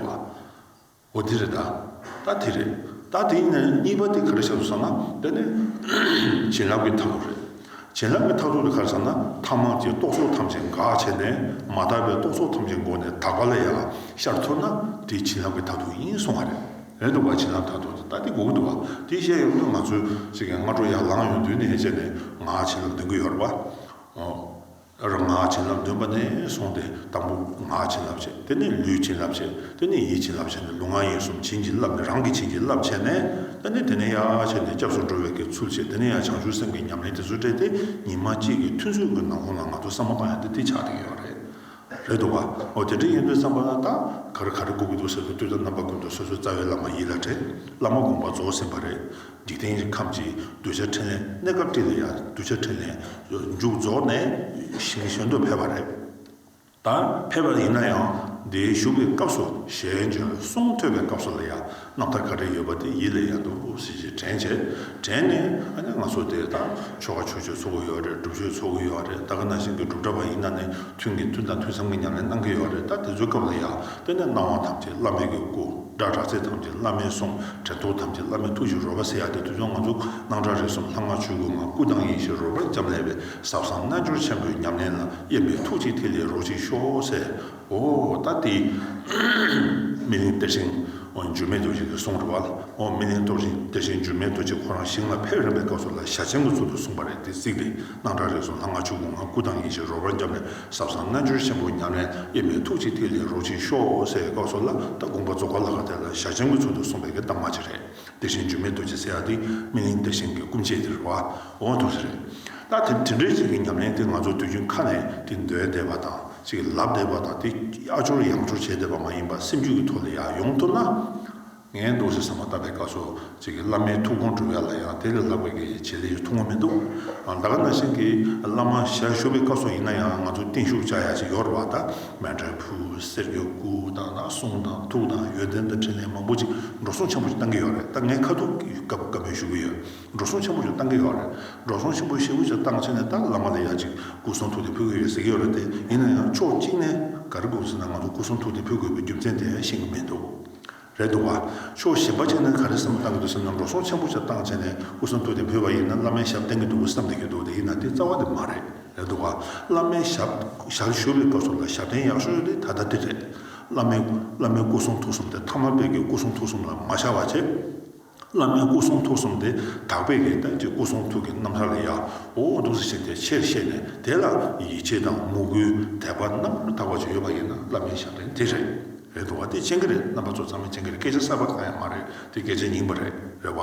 འོ་འདི་རེད། ད་དེ་རེད། ད་དེའི་ནང་གཉིས་པ་དེ་ག་རེ་བྱ་དགོས་ཟེར་ན་དེ་ནི་བྱིན་རླབས་ཀྱི་ཐབས་ལམ་རེད། བྱིན་རླབས་ཀྱི་མཐར་ཐུག་གི་ཁར་ཚང་ན་ཐ་མག་ཅེས་རྟོག་ཚོགས་ཐམས་ཅད་འགག་བྱས་ནས་མ་དག་པའི་རྟོག་ཚོགས་ཐམས་ཅད་མགོ་ནས་དག་པ་ལ་ཡང་ཤར་ཐུབ་ན་དེ་བྱིན་རླབས་ཀྱི་མཐར་ཐུག་ཡིན་གསུང་བ་རེད་འདུག་བ་བྱིན་རླབས་མཐར་ཐུག་དེ་ལྟ་སྟེ་དགོས་ཀྱི་འདུག་བ་དེ་བཤད་ཡོང་དུས་ང་ཚོས་ཚིག་གི་སྔ་དྲོ་ཡར་ལངས་ཡོང་དུས་ནས་བཤད་ནས་ང་ཧ་ཅིང་ལ་འདོན་གྱི་ཡོད་རེད་བ། རང་ངག་བྱིན་རླབས་འདོན་པ་ནས་བཟུང་སྟེ་དང་པོ་ངག་བྱིན་རླབས་བྱས་དེ་ནས་ལུས་བྱིན་རླབས་བྱས་དེ་ནས་ཡིད་བྱིན་རླབས་བྱས་ནས་ལུས་ངག་ཡིད་གསུམ་བྱིན་གྱིས་བརླབས་ནས་རང་གིས་བྱིན་གྱིས་བརླབས་བྱས་ནས་དེ་ནས་དེ་ནས་ཡར་བྱས་ནས་སྐྱབས་སུ་འགྲོ་བའི་གའི་ཚུལ་བྱས་དེ་ནས་ཡང་བྱང་ཆུབ་སེམས་ཀྱི་ཉམས་ལེན་དེ་ཚོ་སྤྲད་དེ་ཉི་མ་གཅིག་གི་ཐུན་ཚོད་ཀྱི་ནང་ཁོང་ལ་ང་ཚོ་བསམ་པ་པ་ཡང་འདི་འདི་ཆགས་ཀྱི་ཡོད་རེད། རེད་འདུག་བ། ཨོ་དེ་འདྲ་ཡིན་དུས་བསམ་པ་ལ་ད་ག་རེ་ག་རེ་བསྒུག་གི་འདུག་ཟེར་དུས་དུས་ད་རྣམ་པ་ཀུན་ཏུ་སོ་སོའི་རྩ་བའི་བླ་མ་ཡིད་ལ་དྲན་བླ་མ་དགོངས་པ་རྫོགས་ཟིན་པ་རེད། འཇིག་རྟེན་གྱི་ཁམས་ཀྱི་གདུལ་བྱ་འཕྲིན་ལས་གནས་སྐབས་བཀྲིས་ལ་ཡང་གདུལ་བྱ་འཕྲིན་ལས་མཇུག་རྫོགས་ནས་ཞིང་གཞན་དུ་ཕེབས་པ་རེད། ད་ཕེབས་པ་ཡིན་ན་ཡང་འདིའི་བཞུགས་པའི་སྐབས་སུ་ཞལ་འབྱོན་གསུང་ཐོས་པའི་སྐབས་སུ་ལ་ཡང་རྣམ་ཐར་ག་རེ་ཡོད་པ་དེ་ཡིད་ལ་ཡང་དུ་ཟིན་ཞིག་དྲན་བྱས། དྲན་ནས་ཨ་ནི་ང་ཚོ་དེ་དང་ཆོ་ག་ཆོས་སྤྱོད་ཚོགས་ཀྱི་ཡོད་རེད་སྒྲུབ་མཆོད་ཚོགས་ཀྱི་ཡོད་རེད་ད་ག་ན་ཞིག་གི་སྒྲུབ་གྲྭ་བ་ཡིན་ན་ནི་ཐུན་གྱི་ཐུན་དང་ཐུན་མཚམས་ཀྱི་ཉམས་ལེན་གནང་གི་ཡོད་རེད་ད་དེ་ཚོའི་སྐབས་ལ་ཡང། དཔེར་ན་སྣང་བ་ཐམས་ཅད་བླ་མེད་ཀྱི་སྐུ། སྒྲ་གྲགས་ཚད་ཐམས་ཅད་བླ་མའི་གསུང། དྲན་ཐོ་ཐམས་ཅད་བླ་མའི་ཐུགས་ཀྱི་རོལ་པ་ཟེར་ཡག་དེ་དུས་ཚོད་ང་ཚོ་སྣང་གྲགས་རེ་གསུམ་ལྷ་སྔགས་ཆོས་སྐུ་ངང་སྐུ་དང་ཡེ་ཤེས་རོལ་པར་འབྱམས་ཀླས་པའི་ཟབ་གསང་རྣལ་འབྱོར་ཆེན་པོའི་ཉམས་ལེན་ལ་གཡེམ་པའི་ཐུགས་ཀྱི་ཐིག་ལེ་རོ་གཅིག་ཤོག་ཟེར། ཨོ། ད་དེ། སྨིན་གླིང་གཏེར་ཆེན། འགྱུར་མེད་རྡོ་རྗེ་གི་གསུང་རེད་བ། སྨིན་གླིང་གཏོར་ཆེན་གཏེར་ཆེན་འགྱུར་མེད་རྡོ་རྗེ་ཁོ་རང་ཞིང་ལ་ཕེབས་རན་པའི་སྐབས་སུ་ལ་ཞྭ་ཆེན་པོ་ཚུར་དུ་གསུངས་པ་རེད་དེ་གཟིགས་པས། སྣང་གྲགས་རིག་གསུམ་ལྷ་ལྔ་ཆོས་སྐུ་ལྔ་སྐུ་དང་ཡེ་ཤེས་རོལ་པར་བརྒྱན་པའི་ཟབ་གསང་རྣལ་འབྱོར་ཆེན་པོ་ཉམས་ལེན་དབྱེར་མེད་ཐུགས་གཅིག་ཐིག་ལེ་རོ་གཅིག་ཤོག་སེར་ཡི་བཀའ་སྲོལ་བླ་དྭགས་དགོངས་པ་རྫོགས་པ་ལ་ཁ་གཏད་ལ་བཞག་སྤྱན་དངོས་ཚུལ་དུ་གསུངས་པའི་གདམས་ངག་ཅིག་རེད། དེ་བཞིན་འཇུ་མེད་རྡོ་རྗེ་སེ་ཡ་ཏི་སྨིན་གླིང་བདེ་ཆེན་གྱི་སྐུ་མཆེད་དེར་བ་འོང་ཐུགས་རྗེ་རེད། ད་དེ་འདྲའི་ཅན་གྱི་ཉམས་ལེན་དེ་ང་ཚོ་དུས་རྒྱུན་ཁ་ནས་དེ་འདོན་བསྡད་པ་དང་ཅིག་ལབ་བསྡད་པ་དང་དེ་ཨ་སྦྱོར་ཡང་སྦྱོར་བྱས་བསྡད་པ་མ་ཡིན་པར་སེམས་རྒྱུད་ཀྱི་ཐོག་ལ་ཡང་ཡོང་ཐུབ་ན། ངའི་འདུག་ཟེར་ས་མ་བཏབ་པའི་སྐབས་སུ་ཅིག་གིས་བླ་མའི་ཐུགས་དགོངས་སྒྲུབ་ཡ་ལ་ཡང་དེ་ལས་ལྷག་པའི་གི་བྱེད་ལས་ཐུགས་མངོན་མི་འདུག་ཨ་ད་ག་ན་ཤིང་གིས་བླ་མ་ཞལ་བཞུགས་པའི་སྐབས་སུ་ཡིན་ན་ཡང་ང་ཚོ་བརྟན་བཞུགས་བྱ་ཡ་ཅིག་ཡོད་རེད་བ་ད་སྨན་དྲོན་ཕུ་གསེར་གྱི་སྐུ་དང་ན་གསུང་དང་ཐུགས་དང་ཡོན་ཏན་དང་འཕྲིན་ལས་མང་པོ་ཅིག་འགྲོ་སོང་ཆེན་པོ་ཅིག་བཏང་གི་ཡོད་རེད་ད་ངའི་ཁ་ཐུག་གི་སྐབས་སྐབས་མོས་བཞུགས་ཀྱི་ཡོད་འགྲོ་སོང་ཆེན་པོ་ཅིག་བཏང་གི་ཡོད་རེད་འགྲོ་སོང་ཆེན་པོ་ཤེས་བུ་ཅིག་བཏང་ཕྱིན་ནས་ད་བླ་མ་ལ་ཡ་ཅིག་སྐུ་གསུང་ཐུགས་དེ་ཕུལ་གི་ཡོད་ཟེར་གྱི་ཡོད་རེད་དེ་ཡིན་ན་ཡང་ཕྱོགས་གཅིག་ནས་ག་རེ་དགོས་པ་ཟེར་ན་ང་ཚོ་སྐུ་གསུང་ཐུགས་དེ་ཕུལ་དགོས་པའི་རྒྱུ་མཚན་དེ་ཤེས་གི་མི་འདུག། རེད་འདུག་བ། ཕྱོགས་གཞན་པ་ཅིག་ནས་ག་རེ་བསམ་བློ་གཏང་གི་འདུག་སེམས་ལ་འགྲོ་སོང་ཆེན་པོ་ཆགས་སྟངས་བྱས་ནས་སྐུ་གསུང་ཐུགས་དེ་བོད་པ་ཡིན་ན་བླ་མའི་ཞབས་བསྟེན་གི་འདུག་གི་བསམ་བསྡད་ཀྱི་འདུག་དེ་ཡིན་ན་དེ་རྩ་བ་དེ་མ་རེད། རེད་འདུག་བ། བླ་མའི་ཞབས་ཞར་ཞུ་བའི་སྐབས་སུ་ལ་ཞབས་བརྟན་ཡག་ཤོས་ཡོད་དེ་ད་ལྟ་དེ་རེད། བླ་མའི་བླ་མའི་སྐུ་གསུང་ཐུགས་གསུམ་དེ་མཐའ་མ་དཔལ་གྱི་སྐུ་གསུང་ཐུགས་གསུམ་ལ་མ་ཤར་བ་བྱས། བླ་མའི་སྐུ་གསུང་ཐུགས་གསུམ་སྟེ་དག་པའི་ཡེ་ཐབས་ཀྱི་སྐུ་གསུང་ཐུགས་ཀྱི་རྣམ་ཐར་ལ་ཡང་ཨོ་འོ་འདུག་ཟེར་བཞིན་དེ་ཕྱིར་གཤེགས་ནས་དེ་ལ་ཡིད་ཆེས་དང་མོས་གུས་དད་པ་རྣམ་པར་དག་པ་ཅིག་ཡོད་པ་ཡིན་ན་བླ་མའི་ཞབས་འདྲེན་དེ་རེད་རེད་འདུག་བ་དེ་སྤྱན་གྱི་རེད་རྣམ་པ་ཚོ་ཚང་མས་སྤྱན་གྱི་རེད་སྐད་ཆ་གསར་པ་གང་ཡང་མ་རེད་དེ་སྐད་ཆ་ཉིན་པ་རེད་རེད་བ་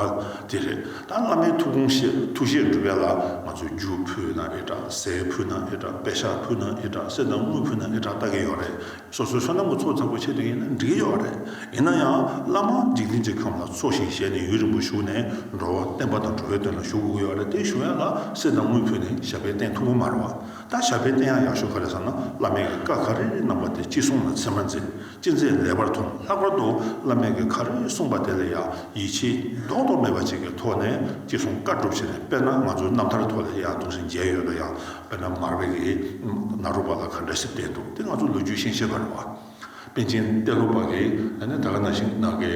དེ་རེད་ད་བླ་མའི་ཐུགས་དགོངས་བཞེད་ཐུགས་བཞེད་འགྲུབ་ཡ་ལ་ང་ཚོས་རྒྱུ་ཕུལ་ན་ཨེ་དྲག་ཟས་ཕུལ་ན་ཨེ་དྲག་པད་ཤག་ཕུལ་ན་ཨེ་དྲག་གསེར་དང་དངུལ་ཕུལ་ན་ཨེ་དྲག་ལྟ་གི་ཡོད་རེད་སོ་སོའི་བསོད་ནམས་ཀྱི་ཚོགས་བརྩམ་དགོས་ཆེད་དུ་ཡིན་ན་འགྲིག་གི་ཡོད་རེད། ཡིན་ན་ཡང་བླ་མ་འཇིག་རྟེན་གྱི་ཁམས་ལ་འཚོ་ཞིང་གཞེས་ནས་ཡུན་རིང་པོ་བཞུགས་ནས་འགྲོ་བ་བསྟན་པ་དང་འགྲོ་བའི་དོན་ལ་ཞུགས་དགོས་ཀྱི་ཡོད་རེད་དེ་ཞུ་ཡ་ལ་སེར་དང་དངུལ་ཕུལ་ནས་ཞབས་པད་བསྟེན་ཐུབ་ཀྱི་མ་རེད་བ། ད་ཞབས་པད་བསྟེན་ཡག་ཡག་ཞུ་ག་རེད་བསམ་ན་བླ་མེད་ཀྱི་བཀའ་ག་རེ་རེ་གནང་པ་དེ་ཅི་གསུང་ན་ཚིག་མ་མཛེས་ཅི་མཛེས་ལེགས་པར་མཐོང་ལྷག་པར་དུ་བླ་མེད་ཀྱི་ག་རེ་རེ་གསུང་པ་དེ་ལ་ཡང་ཡིད་ཆེས་རྡོག་རྡོག་མེད་པ་ཅིག་གི་ཐོག་ནས་ཅི་གསུང་བཀའ་སྒྲུབ་བྱེད་ནས་དཔེར་ན་ང་ཚོའི་རྣམ་ཐར་ཐོག་ལ་ཡང་གདུང་སེམས་རྒྱས་ཡོད་ན་ཡང་དཔེར་ན་མར་བེ་རི་ནཱ་རོ་པ་ལ་ག་འདྲ་ཞིག་བསྟན་འདུག་དེ་ང་ཚོ་ལོ་རྒྱུས་ཤེས་ཤེས་པར་རོ། པཎ་ཆེན་གཏེར་ལོ་པ་གིས་ད་ནི་ད་ག་ན་ཞིག་ནཱ་གི་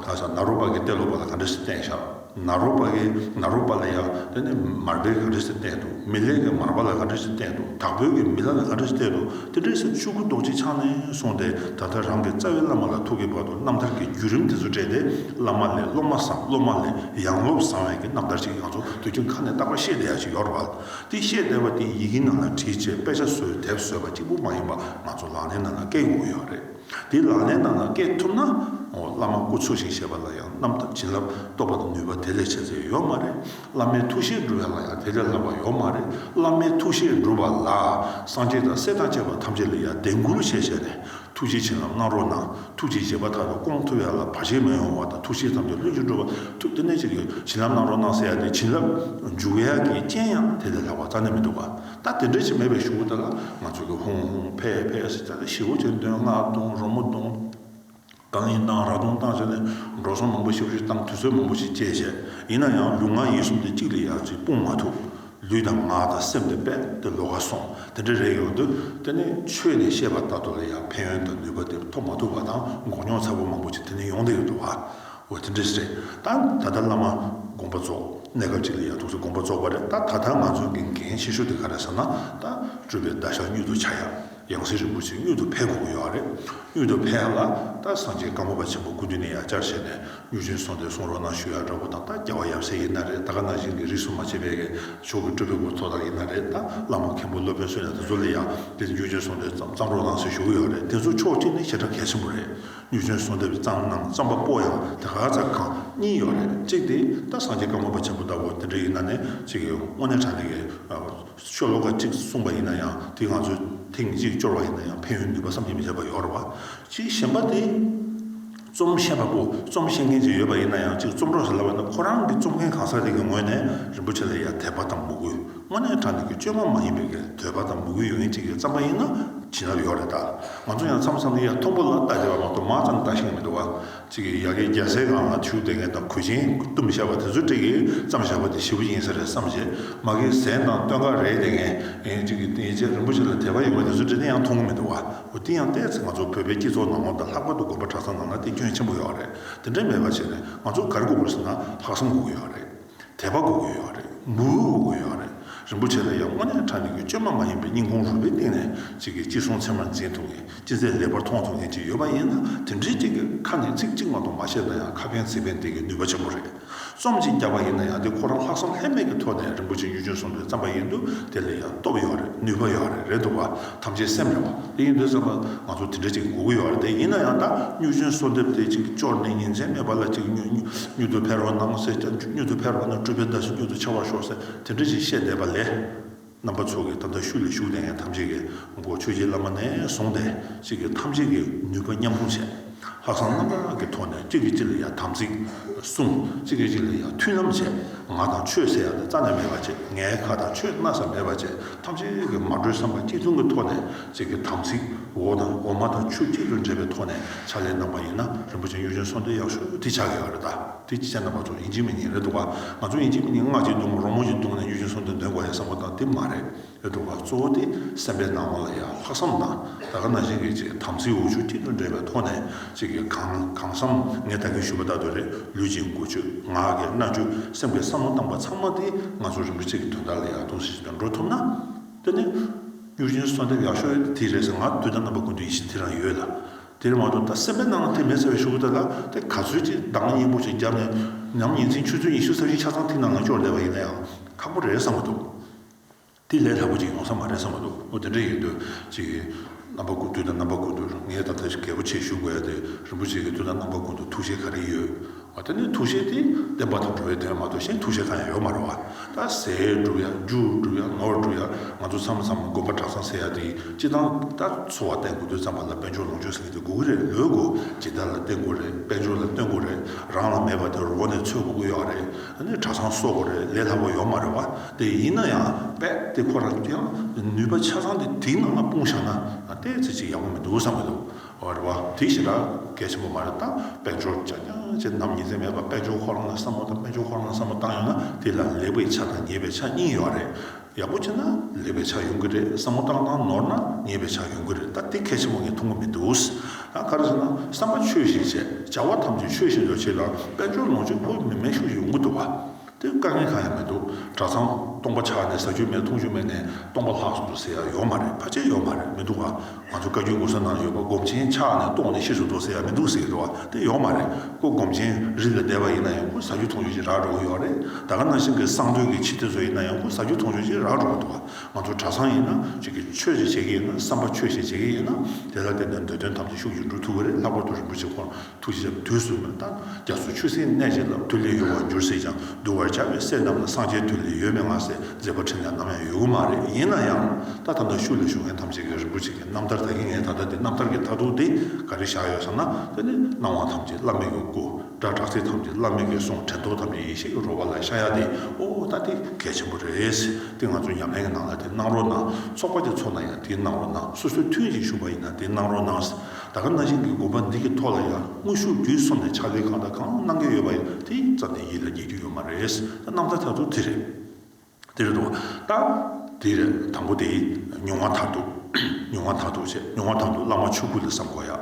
ག་ས་ནཱ་རོ་པ་གིས་གཏེར་ལོ་པ་ལ་ག་འདྲ་ཞིག་བསྟན་ཤག་ནཱ་རོ་པ་གིས་ནཱ་རོ་པ་ལ་ཡ་ད་ནི་མར་བེ་ག་འདྲ་ཞིག་བསྟན་འདུག་མི་ལེགས་ཀྱི་མར་བ་ལ་ག་འདྲ་ཞིག་བསྟན་འདུག་དྭགས་པོའི་གིས་མི་ལ་ལ་ག་འདྲ་ཞིག་བསྟན་འདུག་དེ་འདྲའི་ཟེར་ཆུ་ཁུ་རྡོག་གཅིག་འཕྱང་ནས་སོང་སྟེ་ད་ལྟ་རང་གི་རྩ་བའི་བླ་མ་ལ་ཐུག་གི་བར་དུ་རྣམ་ཐར་གྱི་བརྒྱུད་རིམ་དེ་ཚོ་བཀྲལ་ཏེ་བླ་མ་ལས་སློབ་མ་བཟང་སློབ་མ་ལས་ཡང་སློབ་བཟང་བའི་གི་རྣམ་ཐར་ཞིག་ཡང་ཚོ་དུས་རྒྱུན་ཁ་ནས་རྟག་པར་ཤེས་བསྡད་ཡག་ཞིག་ཡོད་རེད་བ། དེ་བཤད་བསྡད་པ་དེ་ཡི་གེ་ནང་ལ་བྲིས་ཆེད་དཔེ་ཆ་བཟོས་དེབ་བཟོས་པ་གཅིག་པུ་མ་ཡིན་པ་ང་ཚོ་ལག་ལེན་ནང་ལ་བཀལ་དགོས་ཀྱི་ཡོད་རེད། དེ་ལག་ལེན་ནང་ལ་བཀལ་ཐུབ་ན། འོ་བླ་མ་སྐུ་འཚོ་ཞིང་ཞེས་པ་ལ་ཡང་རྣམ་ཐར་བྱིན་རླབས་རྟོགས་པ་དང་ནུས་པ་དེ་ལས་ཆེ་ཚད་ཡོད་མ་རེད། བླ་མའི་ཐུགས་བཞེད་འགྲུབ་བ་ལ་ཡང་དེ་ལས་ལྷག་པ་ཡོད་མ་རེད། བླ་མའི་ཐུགས་བཞེད་འགྲུབ་པ་ལ་སངས་རྒྱས་དང་སྲས་དང་བཅས་པ་ཐམས་ཅད་ལ་ཡང་དད་འགུལ་བྱས་བྱས་ནས། ཐུགས་རྗེ་ཆེ་ལ་བསྔགས་རོགས་གནང། ཐུགས་རྗེ་རྗེ་བ་དག་གི་སྐོང་ཐུབ་ཡ་ལ་བར་ཆད་མི་ཡོང་བ་དང་ཐུགས་བཞེད་ཐམས་ཅད་ལྷུན་གྱིས་འགྲུབ་པ་ཐུགས་རྟེན་ནས་ཅིག་གི་བྱིན་རླབས་གནང་རོགས་གནང་ཟེར་ཡ་དེ་བྱིན་རླབས་འཇུག་གི་ཡ་གི་རྐྱེན་ཡང་དེ་ལས་ལྷག་པ་རྩ་ནས་མི་འདུག་ག་ད་དེ་འདྲ་ཅིག་མེད་པའི་ཞུ་བོ་དེ་ལ་ང་ཚོ་གི་ཧུང་ཧུང་ཕེ་ཕེ་ཟེར་ཚད་ལ་ཞི་བོ་ཆེ་འདོན་བསྔགས་གཏོང་རོགས་མོ་གཏོང། གང་ཡིན་གཏང་རག་གཏོང་གཏང་བྱས་ནས་འགྲོ་སོང་མང་པོ་ཤི་བོ་ཤི་སྟངས་དུས་ཚོད་མང་པོ་ཞིག་བསྐྱལ་བྱས་ཡིན་ན་ཡང་ལུས་ངག་ཡིད་གསུམ་དེ་གཅིག་ལས་ཡར་ཅིག་སྤུངས་མ་ཐུབ། ལུས་དང་ངག་དང་སེམས་དེ་དཔལ་དེ་ལོ་ག་སོང་དེ་འདྲ་རེད་ཡོང་དུས་དེ་ནི་ཆོས་ནས་བཤད་པ་ལྟ་བུ་ལ་ཡང་ཕན་ཡོན་དང་ནུས་པ་དེ་ཐོབ་མ་ཐུབ་པ་དང་མགོ་རྙོག་ཚ་པོ་མང་པོ་ཅིག་དེ་ནས་ཡོང་བསྡད་ཡོད་འདུག་བ་འོ་དེ་འདྲ་རེད་ད་ད་ལྟ་བླ་མ་དགོངས་པ་རྫོགས་གནས་སྐབས་ཅིག་ལ་ཡང་ཐུགས་སུ་དགོངས་པ་རྫོགས་པ་རེད་ད་ད་ལྟ་ང་ཚོ་གི་འགན་ཆེ་ཤོས་དེ་ག་རེད་བསམ་ན་ད་སྤྲུལ་པའི་བརྡ་ཤ་སྙུད་དུ་ཆ་ཡ། ཡང་སྲིད་རིན་པོ་ཆེ་གཡུ་ཐོག་ཕལ་གོ་གི་ཡོད་རེད། གཡུ་ཐོག་ཕལ་ལ་ད་སངས་རྒྱས་བཀའ་མོ་པ་ཆེན་པོ་སྐུ་མདུན་ནས་ཡང་བསྐྱར་བཤད་ནས་གཡུ་ཆེན་སོང་སྟེ་སོང་རོགས་གནང་ཞུ་ཡག་འདྲ་པོ་དང་ད་རྒྱལ་བ་ཡབ་སྲས་ཡིན་ན་རེད་ད་ག་ནང་བཞིན་གྱི་རིགས་སུ་མ་ཆད་པའི་གས་ཕྱོགས་ཀྱི་སྤྲུལ་པའི་སྐུ་ཐོག་དག་ཡིན་ན་རེད་ད་བླ་མ་མཁན་པོ་སློབ་དཔོན་བསོད་ནས་ད་ཚོ་ལ་ཡང་དེ་གཡུ་ཆེན་སོང་སྟེ་བརྩམས་རོགས་གནང་ཟེར་ཞུ་གི་ཡོད་རེད་དེ་ཚོ་ཕྱོགས་གཅིག་ནས་ཞེ་དྲག་གལ་ཆེན་པོ་རེད་གཡུ་ཆེན་སོང་སྟེ་བརྩམས་གནང་བརྩམས་པ་པོ་ཡང་དེ་ག་ཚ་གང་གཉིས་ཡོད་རེད་གཅིག་དེ་ད་སངས་རྒྱས་བཀའ་མོ་པ་ཆེན་པོ་ལྟ་བུ་དེ་འདྲ་ཡིན་ན་ནས་གཅིག་གིས་དངོས་གནས་དྲང་གནས་ཀྱི་ཤོ་ལོ་ཀ་གཅིག་གསུངས་པ་ཡིན་ན་ཡང་དེ་ང་ཚོས་ཐེངས་གཅིག་སྤྱོར་བ་ཡིན་ན་ཡང་ཕན་ཡོན་ནུས་པ་བསམ་གྱིས་མི་ཁྱབ་པ་ཡོད་རེད་བ། གཅིག་གཞན་པ་དེ་རྩོམ་ཤེས་པ་པོ་རྩོམ་ཤེས་མཁན་ཅིག་ཡོད་པ་ཡིན་ན་ཡང་གཅིག་རྩོམ་གྲོགས་ཞིག་ལབ་པ་ནི་ཁོ་རང་གིས་རྩོམ་མཁན་གང་ཟག་ཅིག་གི་ངོས་ནས་རིན་པོ་ཆེ་ལ་ཡར་དད་པ་དང་མོས་གུས་དངོས་གནས་དྲང་བདེན་གྱི་བཅོས་མ་མ་ཡིན་པའི་གལ་འདོད་པ་དང་མོས་གུས་ཡོད་མཁན་ཅིག་གི་རྩམ་པ་ཡིན་ན་བྱིན་རླབས་ཡོད་རེད་ད། ང་ཚོ་ཡང་མཚམས་མཚམས་ཡར་མཐོང་པོ་ལ་བལྟ་བྱས་པ་མ་གཏོགས་མང་ཙམ་བལྟ་ཤེས་ཀྱི་མི་འདུག་བ། གཅིག་གིས་ཡ་གི་རྒྱ་སེ་གང་ལ་ཆུ་དེ་ངན་དང་གོས་ཆེན་བཏུམ་བཞག་པ་དེ་ཚོ་གཅིག་གིས་བརྩམ་བཞག་པ་དེ་ཞི་བོ་ཡིན་ས་རེད་བསམ་བྱས་མ་གིའི་ཟན་དང་སྟོན་ཁ་རེད་དེ་ངན་ཡིན་གཅིག་གིས་ཡི་ཆད་རིན་པོ་ཆེ་ལ་དད་པ་ཡོད་པ་དེ་ཚོ་འདྲི་དེ་ཡང་མཐོང་གི་མི་འདུག་བ་འོ་དེ་ཡང་བལྟས་ཚེ་ང་ཚོ་བོད་པའི་སྐྱིད་ཚོགས་ནང་ངོ་དང་ལྷག་པར་དུ་དགོན་པ་གྲྭ་ཚང་ནང་ན་དེ་སྐྱོན་ཆེན་པོ་ཡོད་རེད་དེ་འདྲ་མེད་པ་བྱས་ནས་ང་ཚོ་གར་སྒུག་དགོས་ཟེར་ན་ལྷག་བསམ་སྒུག་གི་ཡོད་རེད། དད་པ་གོ་དགོས་ཡོད་རེད། མོས་གུས་གོ་དགོས་ཡོད་རེད། རིན་པོ་ཆེ་ལ་ཡང་དངོས་གནས་ཕྲ་མེན་གྱི་བཅོས་མ་མ་ཡིན་པའི་སྙིང་ཁོང་རུས་པའི་གཏིང་ནས་གཅིག་གིས་གཅིག་སྲོང་ཚེ་མར་འཛིན་ཐུབ་མཁན་ཅི་ཚད་ལེགས་པར་མཐོང་ཐུབ་མཁན་ཅིག་ཡོད་པ་ཡིན་ན་དེ་འདྲའི་གཅིག་གིས་ཁ་ནས་ཚིག་གཅིག་མ་གཏོགས་མ་བཤད་ན་ཡང་ཁ་འཕེན་ཚིག་འཕེན་འདེགས་ཀྱི་ནུས་པ་ཆེན་པོ་རེད། རྩོམ་གཅིག་རྒྱག་པ་ཡིན་ན་ཡང་དེ་ཁོ་རང་ལྷག་བསམ་ལྷད་མེད་ཀྱི་ཐོག་ནས་རིན་པོ་ཆེ་གཡུ་སྒྱུ་སོང་པའི་རྩམ་པ་ཡིན་དུས་དེ་ལ་ཡང་སྟོབས་ཡོད་རེད་ནུས་པ་ཡོད་རེད་རེད་འདུག་བ། ཐམས་ཅད་སེམས་ཡོང་བ་དེ་ཡིན་དུས་བསམ་པ་ང་ཚོ་དེ་འདྲ་གཅིག་དགོས་ཀྱི་ཡོད་རེད་དེ་ཡིན་ན་ཡང་ད་སྨྱུག་ཆུན་གསོལ་འདེབས་དེ་གཅིག་གཅོར་ནས་ཉིན་མཚན་མེད་པ་ལ་གཅིག་སྨྱུག་ཏུ་ཕེབས་རོགས་གནང་ཟེར་ཀྱང་སྨྱུག་ཏུ་ཕེབས་རོགས་གནང་སྤྲུལ་པའི་བརྡ་ཞིག་སྨྱུག་ཏུ་ཆགས་པར་ཤོག་ཟེར་དེ་འདྲ་གཅིག་བཤད་བསྡད་པ་ལས། རྣམ་པ་ཚོ་གིས་ད་ལྟ་ཤུལ་ལ་བཞུགས་བསྡད་མཁན་ཐམས་ཅད་ཀྱིས་མགོ་ཆོས་རྗེ་བླ་མ་ནས་བཟུང་སྟེ་གཅིག་གིས་ཐམས་ཅད་ཀྱི་ནུས་པ་མཉམ་སྤུངས་བྱས། ལྷག་བསམ་རྣམ་དག་གི་ཐོག་ནས་གཅིག་གིས་གཅིག་ལ་ཡང་དམ་ཚིག་བསྲུང། གཅིག་གིས་གཅིག་ལ་ཡང་མཐུན་ལམ་བྱས། ང་དང་ཆོས་ཟེར་ཡག་ནི་རྩ་ནས་མེད་པར་བྱས། ངའི་ཁ་དང་ཆོས་སྣ་ཚ་མེད་པར་བྱས། ཐམས་ཅད་ཀྱིས་མ་གྲོས་བསམ་པ་གཅིག་མཚུངས་ཀྱི་ཐོག་ནས་གཅིག་གི་དམ་ཚིག་འོ་དང་འོ་མ་དང་ཆུ་གཅིག་ཏུ་འདྲེས་པའི་ཐོག་ནས་ཕྱག་ལས་གནང་པ་ཡིན་ན་རིན་པོ་ཆེ་གཡུ་ཅན་སོགས་འདི་ཡག་ཤོས་འདི་ཆགས་ཡག་རེད་ད་དེ་ཅི་བྱས་ན་མ་ཚོགས་ཡིན་གཅིག་མིན་གཉིས་རེད་འདུག་ག་ང་ཚོ་ཡིན་གཅིག་མིན་གཉིས་སྔགས་གཅིག་བརྡུང་རོགས་རྨོ་གཅིག་བརྡུང་ནས་གཡུ་ཅན་སོགས་འདི་འདོན་དགོས་ཡ་བསམ་བ་དང་དེ་མ་རེད། ལས་གྲུབ་པ་གཙོ་བོ་དེ་སེམས་པའི་སྣང་བ་ལ་ཡང་ལྷག་བསམ་དང་ད་ག་ན་གཞིག་གིས་ཅིག་དམ་ཚིག་འོ་ཆུ་སྐྱིད་དུ་འདྲེས་པའི་ཐོག་ནས་ཅིག་གིས་གང་གང་བསམ་ངས་ད་གིན་ཞུས་པ་ལྟར་དུ་རེ་ལུས་ཅིག་མགུ་ཆོས་ངག་གི་རྣ་ཆོས་སེམས་ཀྱི་བསམ་བློ་བཏང་པ་ཚང་མ་དེ་ང་ཚོ་རིན་པོ་ཆེ་གི་དོན་དག་ལ་ཡང་གཏོང་སྲིད་ཅིག་ཏུ་འགྲོ་ཐུབ་ན། དེ་ནི། གཡུ་རྒྱུན་གསོལ་འདེབས་ཡག་ཤོས་དེ་རེད་ཟེར་ང་དུས་ད་རྣམ་པ་ཀུན་ཏུ་ཡིད་བཞིན་དེ་རང་ཡོད་ལ། དེར་མ་གཏོགས་ད་སེམས་པའི་སྣང་བ་དེ་མེད་ཟེར་བའི་ཤོག་བུ་དེ་ལ་དེ་ག་ཚོད་ཅིག་འདང་སྙན་པོ་ཅིག་བརྒྱབ་ནས་ཉམས་ཉིན་མཚན་ཆུ་ཚོད་ཉི་ཤུ་ས་བཞི་ཆ་ཚང་ཐིག་ནང་ལ་སྐྱོར་བསྡད་པ་ཡིན་ན་ཡང་ཁག་པོ་རེད་བསམ་གྱི་འདུག། དེ་ལས་སླ་པོ་ཅིག་ཡོང་ས་མ་རེད་བསམ་པ་འདུག་ཨོ་དེ་འདྲ་ཡིན་དུས་ཅིག་གི་རྣམ་པ་དགུ་འདུག་ད་རྣམ་པ་དགུ་འདུག་ངས་ད་ལྟ་གལ་པོ་ཆེ་ཞུ་དགོས་ཡ་དེ་རིན་པོ་ཆེ་གིས་དུས་ད་རྣམ་པ་དགུ་འདུག་ཐུགས་བཞེད་ག་རེ་ཡོད་ཨོ་དེ་ནས་ཐུགས་བཞེད་དེ་བདེན་པ་དང་འགྲོ་བའི་དོན་མ་གཏོགས་གཞན་ཐུགས་བཞེད་གང་ཡང་ཡོད་མ་རེད་བ་ད་ཟས་བསྒྲུབ་ཡ་རྒྱུ་བསྒྲུབ་ཡ་ནོར་བསྒྲུབ་ཡ་ང་ཚོ་མཚམས་མཚམས་དགོན་པ་གྲྭ་ཚང་ཟེར་ཡ་དེ་སྤྱི་བཏང་ད་འཚོ་བ་བརྟན་དགོས་དུས་ཙམ་པ་ལ་དཔལ་འབྱོར་ལོངས་སྤྱོད་ཟེར་གི་དེ་དགོས་གི་རེད་ལོས་དགོས་སྦྱིན་བདག་ལ་བརྟེན་དགོས་རེད་དཔལ་འབྱོར་ལ་བརྟེན་དགོས་རེད་རང་ལ་མེད་པ་དེ་རོགས་ནས་འཚོལ་དགོས་གི་ཡོད་རེད་ནས་གྲྭ་ཚང་གསོ་དགོས་རེད་ལས་སླ་པོ་ཡོད་མ་རེད་བ། དེ་ཡིན་ན་ཡང་རྦད་དེ་ཁོ་རང་གི་ཡང་ནུས་པ་ཆ་ཚང་དེ་དེའི་ནང་ལ་སྤུངས་བཞག་ན་ལྟས་ཚོད་ཅིག་ཡག་པོ་མི་འདུག་བསམ་གྱི་འདུག་རེད་བ། དེ་བཞིན་ར་གས་ཆེན་པོ་མ་རེད་ད་དཔལ་འབྱོར་བྱ་རྒྱ་ཆེ་ནམ་ཉིན་ཚད་མེད་པ་དཔལ་འབྱོར་ཁོ་རང་ལ་བསམ་བློ་དང་དཔལ་འབྱོར་ཁོ་རང་ལ་བསམ་བློ་བཏང་ཡོང་ན་དེ་ལ་ལེགས་པའི་ཆ་དང་ཉེས་པའི་ཆ་གཉིས་ཡོད་རེད་ཡག་པོ་བྱས་ན་ལེགས་པའི་ཆ་ཡོང་གི་རེད་བསམ་བློ་བཏང་བཏང་ནོར་ན་ཉེས་པའི་ཆ་ཡོང་གི་རེད་ད་དེ་གལ་ཆེན་པོ་ངས་མཐོང་གི་མི་འདུག་ད་ག་རེ་བྱས་ན་བསམ་པ་ཆོས་བཞིན་བྱས་བྱ་བ་ཐམས་ཅད་ཆོས་བཞིན་དུ་བྱས་ལ་དཔལ་འབྱོར་ལོངས་སྤྱོད་ཕོག་མི་དམན་ཤུགས་ཡོང་གི་འདུག་བ། དེ་དཀའ་ངལ་གང་ཡང་མི་འདུག་གྲྭ་ཚང་སྟོང་པ་ཆགས་ནས་ཟ་རྒྱུ་མེད་འཐུང་རྒྱུ་མེད་ནས་སྟོང་པ་ལྷག་སོང་དུ་ཟེར་ཡ་ཡོད་མ་རེད་ཕ་ཆད་ཡོད་མ་རེད་མི་འདུག་ག་ང་ཚོ་བཀའ་རྒྱུད་ངོ་སོ་ནང་ཡོད་པ་སྒོམ་ཆེན་ཆགས་ནས་ལྟོགས་ནས་ཤི་སུ་འགྲོ་ཟེར་ཡ་མི་འདུག་ཟེར་གི་འདུག་ག་དེ་ཡོད་མ་རེད་ཁོ་སྒོམ་ཆེན་རིགས་ལ་དད་པ་ཡིན་ན་ཡང་ཁོ་ཟ་རྒྱུ་འཐུང་རྒྱུ་ཅིག་རག་འགྲོ་གི་ཡོད་རེད་ད་ག་ནང་བཞིན་གི་གསང་སྟོད་ཀྱི་ཕྱི་དེ་ཚོ་ཡིན་ན་ཡང་ཁོ་ཟ་རྒྱུ་འཐུང་རྒྱུ་ཅིག་རག་འགྲོ་གི་འདུག་ག་ང་ཚོ་གྲྭ་ཚང་ཡིན་ན་གཅིག་གིས་ཆོས་ཞིག་བྱེད་ཀྱི་ཡིན་ན་བསམ་པ་ཆོས་ཞིག་བྱེད་ཀྱི་ཡིན་ན་དེ་ལ་བརྟེན་ནས་འདོད་དོན་ཐམས་ཅད་ཤུགས་ཀྱིས་འགྲུབ་ཐུབ་ཀྱི་རེད་ལྷག་པར་དུ་རིན་པོ་ཆེ་ཁོང་ཐུགས་རྗེ་ཆེན་པོས་དུས་གསུམ་ལ་བལྟ། རྒྱ་མཚོ་ཆུ་སེར་གནས་བྱས་ལ། ཐུགས་ལས་གཡོ་བར་འགྱུར་སྲིད་ཀྱང་གདུལ་བར་བྱ་བའི་སྲས་རྣམས་ལ་སངས་རྒྱས་དུས་ལས་ཡོལ་མེད་ངང་སྲས་མཛད་པ་ཕྲན་ལས་ནམ་ཡང་ཡོད་གི་མ་རེད་ཡིན་ན་ཡང། ལྟ་ཐམས་ཅད་ཤུགས་ལས་ཞུགས་མཁན་ཐམས་ཅད་ཀྱིས་རིན་པོ་ཆེ་ཀྱི་རྣམ་ཐར་དག་གིས་ངས་ད་ལྟ་འདི་རྣམ་ཐར་གྱི་མཐར་ཐུག་དེ་ག་རེ་བཞག་ཡོད་ཟེར་ན་དེ་ནི་སྣང་བ་ཐམས་ཅད་བླ་མེད་ཀྱི་སྐུ། སྒྲ་གྲགས་ཚིག་ཐམས་ཅད་བླ་མེད་ཀྱི་གསུང་དྲན་རྟོག་ཐམས་ཅད་ཡེ་ཤེས་ཀྱི་རོལ་བ་ལ་ཤ་ཡ་དེ་ཨོ་ད་དེ་གལ་ཆེན་པོ་རེད། དེ་ང་ཚོའི་ཉམས་ལེན་གྱི་ནང་ལ་དེ་གནང་རོགས་གནང་ཚོགས་པ་དེ་ཚོགས་ན་ཡང་དེ་གནང་རོགས་གནང་སོ་སོའི་མཐུན་གཅིག་ཞུགས་པ་ཡིན་ན་དེ་གནང་རོགས་གནང། ད་ག་ན་གཞན་གྱི་དགོན་པ་འདི་གི་ཐོག་ལ་ཡང་དངོས་ཤུགས་བརྒྱུད་གསུམ་ནས་ཕྱག་ལས་གང་དང་གང་གནང་གི་ཡོད་པ་ཡང་དེ་ཙམ་ནས་ཡིད་ལ་ངེས་ཀྱི་ཡོད་མ་རེད། རྣམ་ཐར་ཐར་ཐུག་དེ་རེད། དེ་རེད་འདུག་ད། དེ་རེད་དང་པོ་དེ། མྱོང་བ་མཐར་ཐུག། མྱོང་བ་མཐར་ཐུག་བྱས་མྱོང་བ་མཐར་ཐུག་བླ་མ་ཆོས་སྐུ་ལ་བསམ་དགོས་ཡ།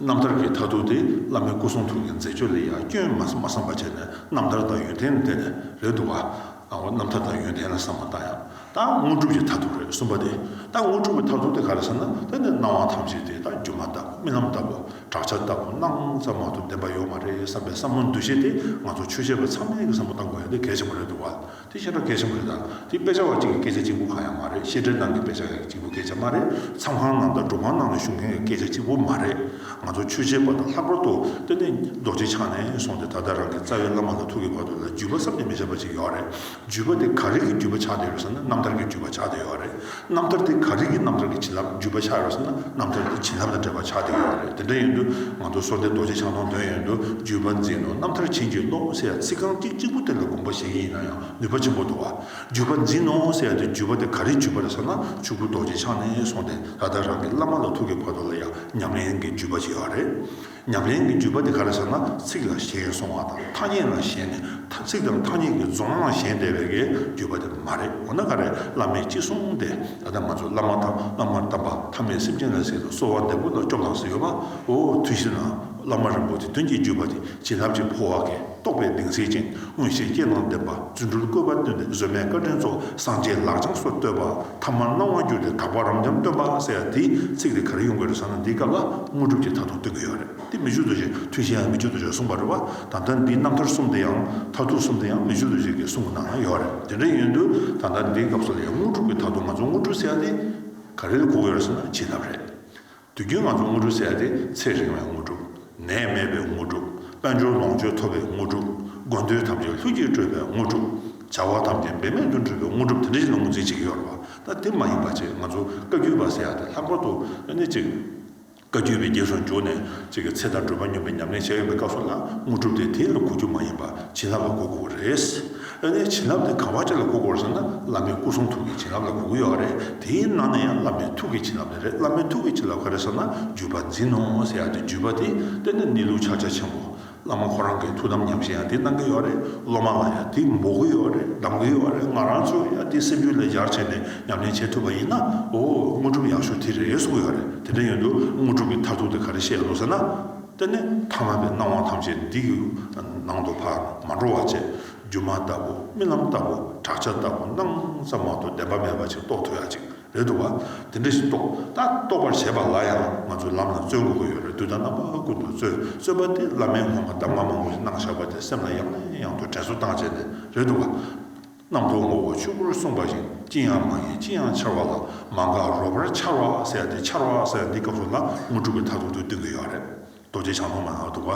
རྣམ་ཐར་གྱི་མཐར་ཐུག་དེ་བླ་མའི་སྐུ་གསུང་ཐུགས་ཀྱི་མཛད་སྤྱོད་ལ་ཡང་སྐྱོན་མ་བསམ་པ་བྱས་ནས་རྣམ་ཐར་དང་ཡོན་ཏན་བསྟན་ནས་རེད་འདུག་ག། ཨ་ཧོ་རྣམ་ཐར་དང་ཡོན་ཏན་ལ་བསམ་པར་བལྟ་ཡང་ད་དངོས་གྲུབ་ཀྱི་མཐར་ཐུག་རེད་གསུངས་པ་དེ་ད་དངོས་གྲུབ་ཀྱི་མཐར་ཐུག་དེ་ག་རེད་བསམ་ན་ད་ནི་སྣང་བ་ཐམས་ཅད་དེ་ད་སྒྱུ་མ་ལྟ་བུ་རྨི་ལམ་ལྟ་བུ་བྲག་ཆ་ལྟ་བུ་སྣང་ཙམ་མ་གཏོགས་བདེན་པ་ཡོད་མ་རེད་བསམ་པའི་བསམ་བློ་འདུ་ཤེས་དེ་ང་ཚོ་ཆོས་བྱེད་པ་ཚང་མའི་བསམ་བློ་ལྟ་དགོས་ཡ་འདི་གལ་ཆེན་པོ་རེད་འདུག་བ་དེ་ཤེས་རབ་གལ་ཆེན་པོ་རེད་ད་དེ་དཔེ་ཆ་བ་གཅིག་གི་སྐད་ཆ་གཅིག་པུ་གང་ཡང་མ་རེད་ཤེས་འབྲས་ནང་གི་དཔེ་ཆ་གཅིག་པུ་སྐད་ཆ་མ་རེད་མཚམས་ཁང་ནང་དང་སྒྲུབ་ཁང་ནང་ལ་བཞུགས་མཁན་གྱི་སྐད་ཆ་གཅིག་པུ་མ་རེད། ང་ཚོ་ཆོས་བྱེད་པ་དང་ལྷག་པར་དུ་དཔེ་མེད་རྡོ་རྗེ་འཆང་ནས་སོང་སྟེ་ད་ལྟ་རང་གི་རྩ་བའི་བླ་མ་ལ་ཐུག་གི་བར་དུ་ལ་རྒྱུད་པ་བསམ་གྱིས་མི་ཁྱབ་པ་ཅིག་ཡོད་རེད། རྒྱུད་པ་དེ་ག་རིགས་ཀྱི་རྒྱུད་པ་ཆགས་བསྡད་ཡོད་ཟེར་ན་རྣམ་ཐར་གྱི་རྒྱུད་པ་ཆགས་བསྡད་ཡོད་རེད། རྣམ་ཐར་དེ་ག་རིགས་ཀྱི་རྣམ་ཐར་གྱི་བྱིན་རླབས་རྒྱུད་པ་ཆགས་ཡོད་ཟེར་ན་རྣམ་ཐར་དེ་བྱིན་རླབས་དང་འབྲེལ་བ་ཆགས་བསྡད་ཡོད་རེད་དེ་འདྲ་ཡིན་དུས་ང་ཚོ་སོ་ཏའི་རྡོ་རྗེ་འཆང་དང་དོན་ཡོད་དུ་རྒྱུད་པ་འཛིན་ནོ་རྣམ་ཐར་བྱིན་གྱིས་རློབས་ཟེར་ཡང་ཚིག་རྐང་གཅིག་གཅིག་པོ་དེ་ལ་དགོངས་པ་བཞེས་ཀྱི་ཡིན་ན་ཡང་ནུས་པ་ཆེན་པོ་འདུག་བ། བརྒྱུད་པ་འཛིན་ནོ་ཟེར་ཡང་དེ་བརྒྱུད་པ་དེ་ག་རེ་བརྒྱུད་པ་རེད་ཟེར་ན་ཆུ་བོ་རྡོ་རྗེ་འཆང་ནས་སོང་སྟེ་ད་ལྟ་རང་གི་བླ་མ་ལ་ཐུག་གི་བར་དོ་ལ་ཡང་ཉམས་ལེན་གྱི་བརྒྱུད་པ་ཞིག་ཨ་རེད། ཉམས་ལེན་གྱི་བརྒྱུད་པ་དེ་ག་རེ་ཟེར་ན་ཚིག་ལ་ཞེན་སོང་བ་དང་ཐ་སྙད་ལ་ཞེན་ནས་ཚིག་དང་ཐ་སྙད་ཀྱི་རྫོང་ལ་ཞེན་བསྡད་པའི་གའི་བརྒྱུད་པ་དེ་མ་རེད་འོ་ན་ག་རེ་བླ་མས་ཅི་གསུང་སྟེ་ད་ལྟ་ང་ཚོ་བླ་མ་དང་བླ་མར་དམ་པ་ཐ་མའི་སེམས་ཅན་ལ་ཟེར་ནས་གསོལ་བ་འདེབས་པོ་ལ་སྐྱོབ་ལངས་ཟེར་ཡོད་པ་འོ་དུས་ཕྱིས་ན་བླ་མ་རིན་པོ་ཆེ་དོན་གྱི་བརྒྱུད་པ་དེ་བྱིན་རླབས་ཀྱི་འཕོ་བ་གའི། རྟོགས་པའི་གདིང་སེལ་ཅིང་མངོན་ཤེས་སྐྱེད་བླང་བསྟན་པ་རྫུ་འཕྲུལ་བཀོད་པ་སྟོན་ཏེ་གཟོད་མེད་བཀའ་དྲིན་གཙོ་སངས་རྒྱས་ལག་བཅངས་སོ་བསྟོད་པ་ཐ་མར་སྣང་བར་གྱུར་ཏེ་དག་པ་རབ་འབྱམས་སྟོན་པ་ཟེར་ཡང་དེའི་ཚིག་དེ་ག་རེ་ཡོང་གི་རེད་བསམ་ན་འདིའི་སྐབས་ལ་དངོས་གྲུབ་ཀྱི་མཐའ་ཐུག་སྟོན་གྱི་ཡོད་རེད་དེ་མི་བཅུ་རྡོ་རྗེ་ཐུན་བཞིའང་མི་བཅུ་རྡོ་རྗེར་གསུངས་པ་རེད་བ་ད་ལྟ་འདིའི་རྣམ་ཐར་གསུམ་དེ་ཡང་མཐར་ཐུག་གསུམ་དེ་ཡང་མི་བཅུ་རྡོ་རྗེ་གིས་གསུངས་པ་ནང་ན་ཡོད་རེད་དེ་འདྲ་ཡིན་དུས་ད་ལྟ་འདིའི་སྐབས་སུ་ལ་ཡང་དངོས་གྲུབ་ཀྱི་མཐའ་ཐུག་ང་ཚོ་དངོས་གྲུབ་ཟེར་ཡང་དེ་ག་རེ་ལ་གོ་གི་ཡོད་རེད་བསམ་ན་བྱིན་རླབས་རེད་དུས་རྒྱུན་ང་ཚོ་དངོས་སྒྲུབ་བྱས་ཏེ་ཚེ་རིང་བའི་དངོས་སྒྲུབ། ནད་མེད་པའི་དངོས་སྒྲུབ། དཔལ་འབྱོར་ལོངས་སྤྱོད་འཐོབ་པའི་དངོས་སྒྲུབ། དགོས་འདོད་ཐམས་ཅད་ལྷུན་གྱིས་གྲུབ་པའི་དངོས་སྒྲུབ། བྱ་བ་ཐམས་ཅད་འབད་མེད་དུ་འགྲུབ་པའི་དངོས་སྒྲུབ་དེ་འདྲ་ཞིག་ལ་ངོས་འཛིན་བྱེད་ཀྱི་ཡོད་རེད་པ། ད་དེ་མ་ཡིན་པ་ཅིག་ང་ཚོ་བཀའ་བརྒྱུད་པ་ཟེར་ཡག་སྟེ་ལྷག་པར་དུ་ནི་ཅིག། བཀའ་བརྒྱུད་པའི་རྗེས་སུ་འཇུག་ནས་ཅིག་ཚེ་དང་སྒྲུབ་པ་སྙོམས་པའི་ཉམས་ལེན་བྱས་ཡོད་པའི་སྐབས་སུ་ལ་དངོས་སྒྲུབ་དེ་དེའི་ལ་གོ་རྒྱུ་མ་ཡིན་པར་བྱིན་རླབས་ལ་གོ་དགོས་པ་རེད། དཔེར་ན་བྱིན་རླབས་དེ་ག་བ་ཅི་ལ་གོ་དགོས་རེད་ཟེར་ན་བླ་མའི་སྐུ་གསུང་ཐུགས་ཀྱི་བྱིན་རླབས་ལ་གོ་གི་ཡོད་རེད། དེའི་ནང་ནས་ཡང་བླ་མའི་ཐུགས་ཀྱི་བྱིན་རླབས་ལས་རེད་བླ་མའི་ཐུགས་ཀྱི་བྱིན་རླབས་ག་རེ་ཟེར་ན་བརྒྱུད་པ་འཛིན་ནོ་ཟེར་ཡག་དེ་བརྒྱུད་པ་དེ་དཔེར་ན་གནས་ལུགས་ཕྱག་རྒྱ་ཆེན་པོ། བླ་མ་ཁོ་རང་གི་ཐུགས་དམ་ཉམས་ཤིང་ཡང་དེ་གནང་གི་ཡོད་རེད་སློབ་མ་ལ་ཡང་དེ་འབོག་གི་ཡོད་རེད་གདམ་གི་ཡོད་རེད་ང་རང་ཚོས་ཡང་དེ་སེམས་རྒྱུད་ལས་སྦྱར་བྱས་ནས་ཉམས་ལེན་བྱེད་ཐུབ་པ་ཡིན་ན་འོ་དངོས་གྲུབ་ཡག་ཤོས་དེ་རེད་གསུང་གི་ཡོད་རེད་དེ་འདྲ་ཡོད་དུས་དངོས་གྲུབ་ཀྱི་མཐར་ཐུག་དེ་ག་རེ་བཤད་ཡོད་དོ་ཟེར་ན། ཏེ་ནི་ཐ་མལ་པའི་སྣང་བ་ཐམས་ཅད་འདི་ཡི་ནང་དུ་བར་མ་འགྲོ་བ་བཅས་སྒྱུ་མ་ལྟ་བུ་རྨི་ལམ་ལྟ་བུ་བྲག་ཆ་ལྟ་བུ་སྣང་ཙམ་མ་གཏོགས་བདེན་པ་མེད་པ་ཅིག་རྟོགས་ཐུབ་ཡ་ཅིག་རེད་འདུག་བ། དེ་འདྲ་ཞིག་རྟོགས་ད་རྟོགས་པར་བྱེད་པ་ལ་ཡང་ང་ཚོས་ལམ་ལ་བརྩོན་དགོས་ཀྱི་ཡོད་རེད་དུས་ད་རྣམ་པ་ཀུན་ཏུ་བརྩོན་བརྩོན་པ་དེ་བླ་མའི་སྔོན་མ་གདམ་ང་མང་པོ་ཞིག་གནང་བཞག་པ་དེ་སེམས་ལ་ཡང་ནས་ཡང་དུ་དྲན་གསོ་བཏང་བྱས་ནས་རེད་འདུག་བ། རྣམ་རྟོག་ངོ་བོ་ཆོས་སྐུར་གསུངས་པ་བཞིན་ཅི་ཡང་མ་ཡིན་ཅི་ཡང་འཆར་བ་ལ་མ་འགགས་རོ་བར་འཆར་བ་སེལ་ཏེ་འཆར་བ་སེལ་འདི་སྐབས་སུ་ན་དངོས་གྲུབ་ཀྱི་མཐའ་ཐུག་ཏུ་སྟོན་གྱི་ཡོད་རེད། རྡོ་རྗེ་འཆང་ཐོག་མ་ནང་དུ་བ།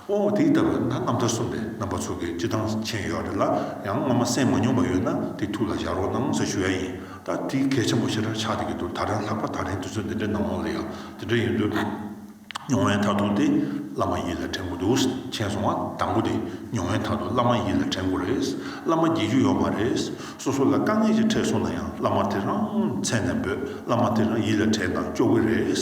ཨོ་དེ་ལྟ་བས་ན་རྣམ་ཐར་གསུམ་པའི་རྣམ་པ་ཚུགས་ཀྱི་སྤྱི་དང་མཆན་ཡོད་རེད་ལ་ཡང་སྔོན་མ་གསན་མ་མྱོང་པ་ཡོད་ན་དེ་ཐུགས་ལ་བཞག་རོགས་གནང་ཞེས་ཞུ་ཡ་ཡིན་ད་དེ་གལ་ཆེན་པོ་ཞེ་དྲག་ཆགས་འདུག་གི་འདུག་ད་རན་ལྷག་པ་ད་རན་དུས་ཚོད་འདི་འདྲའི་ནང་ལོགས་ལ་ཡང་འདི་འདྲ་ཡིན་དུས། མྱོང་བའི་མཐར་ཐུག་དེ་བླ་མ་ཡིད་ལ་དྲན་དགོས་འདུག་མཁྱེན་སོང་བ་དང་པོ་དེ་མྱོང་བའི་མཐར་ཐུག་བླ་མ་ཡིད་ལ་དྲན་དགོས་རེད། བླ་མ་བརྒྱད་ཅུ་ཡོད་མ་རེད། སོ་སོ་ལ་དཀའ་ངལ་ཅིག་འཕྲད་སོང་ན་ཡང་བླ་མ་དེ་རང་མཚན་ནས་འབོད་བླ་མ་དེ་རང་ཡིད་ལ་དྲན་དང་སྐྱོ་གི་རེད།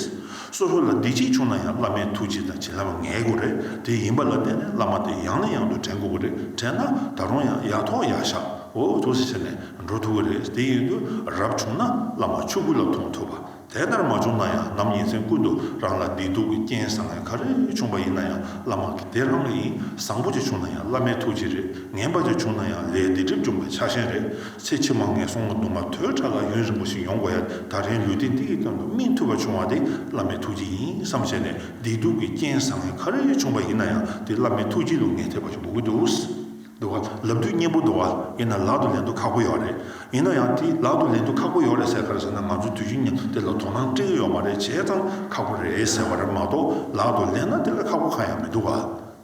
སོ་སོ་ལ་སྡིག་ཅིག་བྱུང་ན་ཡང་བླ་མའི་ཐུགས་རྗེ་དང་བྱིན་རླབས་ངེས་དགོས་རེད་དེ་ཡིན་པ་ལ་བརྟེན་ནས་བླ་མ་དེ་ཡང་ནས་ཡང་དུ་དྲན་དགོས་ཀྱི་རེད་དྲན་ན་ད་རུང་ཡང་ཡག་ཐོག་ཡག་ཤག་འོ་ཐུགས་སུ་ཆེ་ནས་འགྲོ་ཐུབ་ཀྱི་རེད་དེ་ཡིན་དུས་རབས་བྱུང་ན་བླ་མ་ཆོས་སྐུ་ལ་མཐོང་ཐུབ་པ། དེ་ལྟར་མ་བྱུང་ན་ཡང་ནམ་ཉིན་མཚན་ཀུན་ཏུ་རང་ལ་བདེ་སྡུག་གི་རྐྱེན་བཟང་ངན་ག་རེ་བྱུང་བ་ཡིན་ན་ཡང་བླ་མ་གི་དེ་ལྷང་ཡིན་བཟང་པོ་ཅིག་བྱུང་ན་ཡང་བླ་མའི་ཐུགས་རྗེ་རེད་ངན་པ་ཅིག་བྱུང་ན་ཡང་ལས་སྡིག་སྒྲིབ་སྦྱོང་བའི་ཆག་ཞེན་རེད་ཚེ་ཕྱི་མ་ངན་སོང་དུ་མ་དོད་ཕྲ་ལ་ཡུན་རིང་པོ་ཞིག་ཡོང་དགོས་ཡ་ད་རིང་ལུས་བདེ་འདིའི་སྟེང་དུ་སྨིན་ཐུབ་པ་བྱུང་བ་དེ་བླ་མའི་ཐུགས་རྗེ་ཡིན་བསམ་བྱས་ནས་བདེ་སྡུག་གི་རྐྱེན་བཟང་ངན་ག་རེ་བྱུང་བ་ཡིན་ན་ཡང་དེ་བླ་མའི་ཐུགས་རྗེ་ལུས་ངན་ཐེབས་པ་ཞིག་འགོག་གི་འདུག། འདུག་ག་ལབ་དུས་སྙན་པོ་འདུག་ག་ཡིན་ན་ལག་ཏུ་ལེན་དུ་ཁག་པོ་ཡོག་རེད། ཡིན་ན་ཡང་དེ་ལག་ཏུ་ལེན་དུ་ཁག་པོ་ཡོག་རེད་ཟེར་ག་རེ་ཟེར་ན་ང་ཚོས་དུས་རྒྱུན་ནས་དེ་ལ་དོ་སྣང་སྤྲད་ཀྱི་ཡོག་མ་རེད་བྱས་ཙང་ཁག་པོ་རེད་ཟེར་བ་རེད་མ་གཏོགས་ལག་ཏུ་ལེན་ན་དེ་ལས་ཁག་པོ་གང་ཡང་མི་འདུག་ག་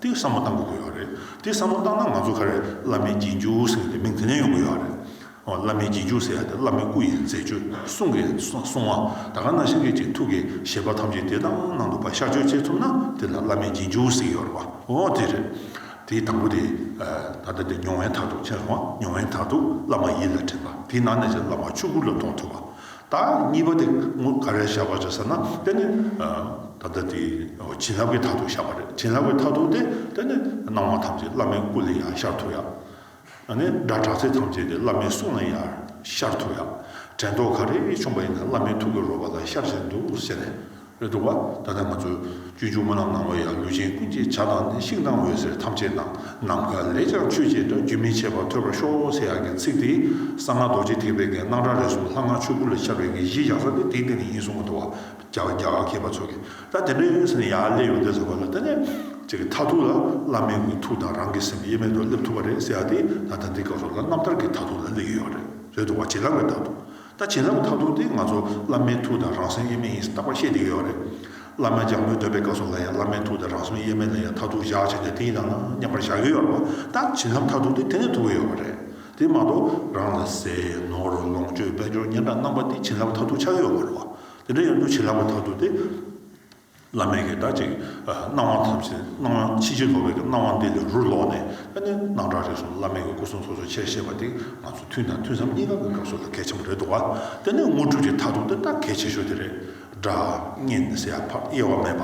དེ་བསམ་བློ་གཏང་དགོས་ཀྱི་ཡོག་རེད་དེ་བསམ་བློ་གཏང་ན་ང་ཚོ་ག་རེ་བླ་མའི་རྒྱན་གྱུར་ཟེར་གི་དེ་མིང་དེ་ནས་ཡོང་གི་ཡོག་རེད། བླ་མའི་རྗེས་འཇུག་ཟེར་ཡང་དེ་བླ་མའི་སྐུ་ཡིན་མཛད་སྤྱོད་གསུང་གི་གསུང་བ་ད་ག་ན་ཤཱ་ཀྱའི་རྗེས་ཐུགས་ཀྱི་བཞེད་པ་ཐམས་ཅད་དེ་དང་ནང་དུ་བ་ཤར་ཆོས་འཆད་ཐུབ་ན་དེ་ལ་བླ་མའི་རྗེས་འཇུག་ཟེར་གི་རེད་བ་འོ་དེ་རེད། དེའི་དང་པོ་དེ་ད་ལྟ་དེ་ཉུང་བན་ཐག་ཐུག་ཆེན་སོང་བ་ཉུང་བན་ཐག་ཐུག་བླ་མ་ཡིད་ལ་དྲན་པ་དེའི་ནང་ནས་ཀྱང་བླ་མ་ཆོས་སྐུ་ལ་མཐོང་ཐུབ་བ་ད་གཉིས་པ་དེ་ངོ་ག་རེ་ཤར་བ་རེད་ཟེར་ན་དེ་ནི་ད་ལྟ་དེ་བྱིན་རླབས་ཀྱི་ཐག་ཐུག་ཤར་བ་རེད་བྱིན་རླབས་ཀྱི་ཐག་ཐུག་དེ་དེ་ནི་སྣང་བ་ཐམས་ཅད་བླ་མའི་སྐུ་ལས་ཡང་ཤར་ཐུབ་ཡ། ད་ནི་སྒྲ་གྲགས་ཚད་ཐམས་ཅད་དེ་བླ་མའི་གསུང་ལ་ཡང་ཤར་ཐུབ་ཡང། དྲན་རྟོག་ག་རེ་བྱུང་བ་ཡིན་ན་བླ་མའི་ཐུགས་ཀྱི་རོལ་པ་ལ་ཤར་བཞིན་འདུག་ཟེར་ནས་རེད་འདུག་བ། ད་ནི་ང་ཚོས་སྤྱོད་འཇུག་མ་ལག་ནང་བ་ཡང་ལུས་ཅན་ཀུན་གྱི་བྱ་དང་ནི་ཤིང་དང་འོད་ཟེར་ཐམས་ཅད་ནང་ནམ་མཁའ་ལས་ཀྱང་ཆོས་ཅན་དང་རྒྱུན་མི་འཆད་པར་ཐོས་པར་ཤོག་ཟེར་ཡག་གི་ཚིག་དེས་གསང་སྔགས་རྡོ་རྗེ་ཐེག་པའི་གནས་སྣང་གྲགས་རེ་ཟུང་ལྷ་སྔགས་ཆོས་སྐུ་ལ་ཤར་བའི་གནས་གཞི་ཡག་ས་དེ་དེའི་གནས་ནི་ཡིན་གསུང་གི་འདུག་བ། རྒྱ་བ་རྒྱ་བ་མཁས་པ་ཚོ་གི་ད་དེ་འདྲའི་ཡོད་ས་ནས་ཡར་སླེབས་ཡོང་བསྡད་ཟེར་བ་ལ་ད་ནི་ཁྱེད་ཀྱི་མཐར་ཐུག་ལ་བླ་མའི་དགོས་ཐུག་དང་རང་གི་སེམས་དབྱེར་མེད་དུ་སླེབས་ཐུབ་པ་རེད་ཟེར་ཡག་དེ་ད་ལྟ་འདི་སྐབས་སུ་ལ་རྣམ་ཐར་གྱི་མཐར་ཐུག་ལ་སླེབས་ཡོད་ཡོད་རེད་རེད་འདུག་བ་བྱིན་རླབས་ཀྱི་མཐར་ཐུག་ད་བྱིན་རླབས་ཀྱི་མཐར་ཐུག་དེ་ང་ཚོ་བླ་མའི་ཐུག་དང་རང་སེམས་དབྱེར་མེད་ཡིན་ས་རྟག་པར་ཤེས་བསྡད་ཡོད་ཡོད་རེད་བླ་མ་ལྗང་མོའི་འདོད་པའི་སྐབས་སུ་ལ་ཡང་བླ་མའི་ཐུག་དང་རང་སེམས་དབྱེར་མེད་ལ་ཡང་མཐར་ཐུག་བཞག་བྱས་ནས་དེ་ཡིན་ན་ན་སྙམ་པར་བཞག་ཡོད་ཡོད་རེད་བ་ད་བྱིན་རླབས་མཐར་ཐུག་དེ་དེ་ནས་ཐུག་གི་ཡོད་རེད་དེ་མ་གཏོགས་རང་ལ་ཟས་ནོར་ལོངས་སྤྱོད་དཔལ་འབྱོར་སྙན་གྲགས་རྣམ་པ་དེ་བྱིན་རླབས་མཐར་ཐུག་ཆགས་ཡོད་ཡོད་རེད་བ། དེ་འདྲ་ཡང་འདུ་བྱེད་ལྷག་པ་དག་ཏུ་སྟེ། བླ་མའི་གེགས་དག་ཅིག། སྣང་བ་ཐམས་ཅད་སྣང་བ་ཕྱིན་ཅི་ལོག་པའི་གེགས་སྣང་བ་འདི་ལས་རུ་ལོག་ནས་ཨ་ནི་སྣང་གྲགས་རིག་གསུམ་བླ་མེད་ཀྱི་སྐུ་གསུང་ཐུགས་སོ་ཆེར་བཤད་པ་འདི་ང་ཚོ་ཐུན་དང་ཐུན་མཚམས་གཉིས་ཀ་གི་སྐབས་སུ་ལ་གལ་ཆེན་པོ་རེད་འདུག་བ། དེ་ནི་དངོས་གྲུབ་ཀྱི་མཐའ་ཐུག་ཏུ་སྟབས་གལ་ཆེ་ཤོས་དེ་རེད། སྒྲ། བརྙན། ཟད་ཡ། ཕབ། དབྱེ་བ་མེད་པ།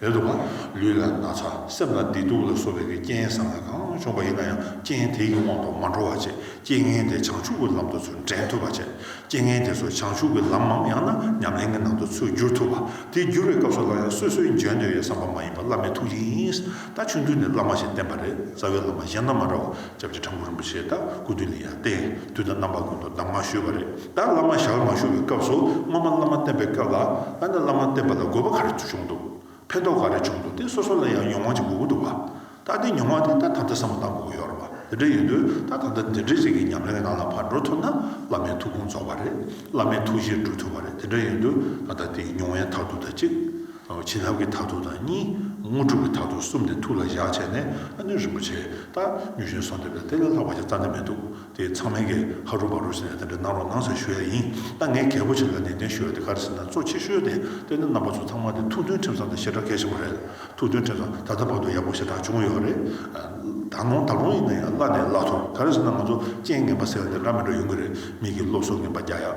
རེད་འདུག་ག་ལུས་ལ་ན་ཚ་སེམས་ལ་བདེ་སྡུག་ལ་སོགས་པའི་གི་རྐྱེན་བཟང་ངན་གང་བྱུང་བ་ཡིན་ན་ཡང་རྐྱེན་དེའི་གི་དབང་དུ་མ་འགྲོ་བ་བཅས་རྐྱེན་ངན་དེ་བྱང་ཆུབ་ཀྱི་ལམ་དུ་ཚུར་འདྲེན་ཐུབ་པ་བཅས་རྐྱེན་ངན་དེ་ཚོ་བྱང་ཆུབ་ཀྱི་ལམ་མམ་ཡང་ན་ཉམས་ལེན་གྱི་ནང་དུ་ཚུར་བསྒྱུར་ཐུབ་པ་དེ་བསྒྱུར་བའི་སྐབས་སུ་སླར་ཡང་སོ་སོའི་འཇོན་འདོད་ཡོད་བསམ་པ་མ་ཡིན་པར་བླ་མའི་ཐུགས་རྗེ་ཡིན། ད་ཆུང་དུས་ནས་བླ་མ་ཞིག་བསྟེན་པ་རེད་རྩ་བའི་བླ་མ་གཞན་དང་མ་འདྲ་བར་སྐྱབས་རྗེ་དྲག་པོ་རིན་པོ་ཆེས་ད་སྐུ་དུས་ལ་ཡང་བསྟན་དུས་ད་བླ་མ་ཀུན་ཏུ་གདམས་ངག་ཞུས་པ་རེད་ད་བླ་མ་ཞག་མ་ཞུ་བའི་སྐབས་སུ་སྔོན་མ་བླ་མ་བསྟེན་པའི་སྐབས་ལ་ཨ་ན་བླ་མ་བསྟེན་པ་ལ་དགོས་པ་ག་རེ་བྱུང་འདུག་ཕན་ཐོག་ག་རེ་བྱུང་འདུག་དེ་སོ་སོ་ལ་ཡང་མྱོང་བ་ཅིག་དགོས་ཀྱི་འདུག་བ་ད་དེ་མྱོང་བ་དེ་ད་དམ་བཅའ་བསམ་བློ་བཏང་དགོས་ཀྱི་ཡོད་རེད་བ་དེ་འདྲ་ཡིན་དུས་ད་ད་ལྟ་འདི་འདྲའི་རིགས་ཀྱི་ཉམས་ལེན་གྱི་ནང་ལ་བར་འགྲོ་ཐུབ་ན་བླ་མའི་ཐུགས་དགོངས་རྫོགས་པ་རེད་བླ་མའི་ཐུགས་བཞེད་འགྲུབ་ཐུབ་པ་རེད་དེ་འདྲ་ཡིན་དུས་ད་ད་དེའི་མྱོང་བའི་མཐར་ཐུག་ད་ཅིག། བྱིན་རླབས་ཀྱི་མཐར་ཐུག་དང་གཉིས། དངོས་གྲུབ་ཀྱི་མཐར་ཐུག་གསུམ་དེ་ཐུགས་ལ་བཞག་བྱས་ནས་ཨ་ནུ་རིན་པོ་ཆེས་ལྟ། མྱུར་བཞིན་སོང་དེ་བས་དེ་ལས་ལྷག་པ་ཞིག་རྩ་ནས་མི་འདུག་དེ་ཚང་མས་ཀྱིས་ཧ་རུ་བ་རུ་ཟེར་ནས་དེ་འདྲ་གནང་རོགས་གནང་ཟེར་ཞུ་ཡ་ཡིན། ད་ངས་གལ་པོ་ཆེ་ལ་ནན་ཏན་ཞུ་ཡ་དེ་ག་རེ་ཟེར་ན་གཙོ་ཆེ་ཤོས་དེ་དཔེ་སྣ་རྣམ་པ་ཚོ་ཚང་མ་དེ་ཐུགས་མཐུན་ཁྲིམས་བཟང་དང་ཞེ་དྲག་གལ་ཆེན་པོ་རེད། ཐུགས་མཐུན་ཁྲིམས་བཟང་ད་ལྟ་བར་དུ་ཡག་པོ་ཞེ་དྲག་བྱུང་ཡོད་རེད། ད་ནོངས་ད་ལོངས་ཡིན་ན་ཡང་བླ་ནས་བླ་ཐུབ་ག་རེ་ཟེར་ན་ང་ཚོ་རྐྱེན་ངན་པ་ཟེར་བ་འདི་འདྲ་མི་འགྲོ་ཡོང་གི་རེད་མིག་གིས་སློབ་གསོ་ངན་པ་རྒྱག་ཡ།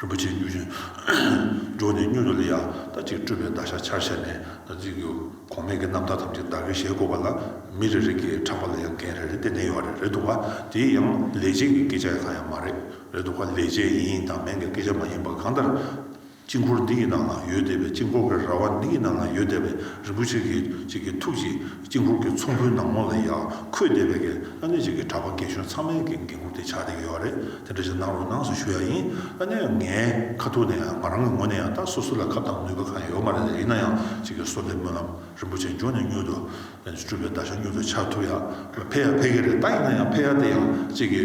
རིན་པོ་ཆེའི་གཡུ་བཞིན་འགྲོགས་ནས་གཉུག་ཏུ་ལི་ཡ་ལྟ་ཅིག་སྤྲུལ་པའི་བརྡ་ཤ་ཆར་བཞད་ནས་རྩིས་ཀྱི་གོང་སྨྲས་ཀྱི་རྣམ་ཐར་ཐམས་ཅད་བདག་གིས་ཞལ་བཀོད་པ་ལ་མི་རེ་རེ་ཀྱིས་གྲགས་པ་ལ་ཡང་འགན་རེ་རེ་གཏན་ནས་ཡོད་རེད་འདུག་བ་དེའི་ཡང་ལས་བྱེད་ཀྱི་སྐད་ཆ་ཡང་གང་ཡང་མ་རེད་རེད་འདུག་བ་ལས་བྱེད་ཡིན་དང་མེན་གྱི་སྐད་ཆ་མ་ཡིན་པ་གང་ལྟར་དཀྱིལ་འཁོར་འདི་ཡི་ནང་ལ་ཡོད་བསྡད་པའི་དཀྱིལ་འཁོར་གྱི་ར་བ་འདི་ཡི་ནང་ལ་ཡོད་བསྡད་པའི་རིན་པོ་ཆེ་གཅིག་གི་ཐུགས་ཀྱི། གཅིག་ལྷུག་གི་ཚོམ་བུའི་ནང་ལོགས་ལ་ཡར་འཁོད་བསྡད་པའི་དགེ་ཨ་ནེ་གཅིག་གི་གྲྭ་པ་རྒན་གཞོན་ཚང་མའི་འགན་འཁུར་དེ་ཆགས་བསྡད་ཡོད་པ་རེད་དེ་འདྲ་ཞིག་གནང་རོགས་གནང་ཞེས་ཞུ་ཡག་ཡིན་ཨ་ནེ་ངའི་ཁ་ཐུག་ནས་ཡང་ང་རང་གི་ངོ་ནས་ཡང་ད་སོ་སོ་ལ་ཁ་བཏང་ནུས་པ་གང་ཡང་ཡོད་མ་རེད་ལ་ཡིན་ན་ཡང་གཅིག་གི་སོ་ལས་སྨོན་ལམ་རིན་པོ་ཆེ་འབྱོར་ནས་མྱུར་དུ་སྤྲུལ་པའི་བརྡ་ཤ་མྱུར་དུ་ཆགས་ཐུབ་ཡག་ཕེ་ཡག་ཕེ་གི་རེད་ད་ཡིན་ན་ཡང་ཕེ་ཡག་དེ་ཡང་གཅིག་གི་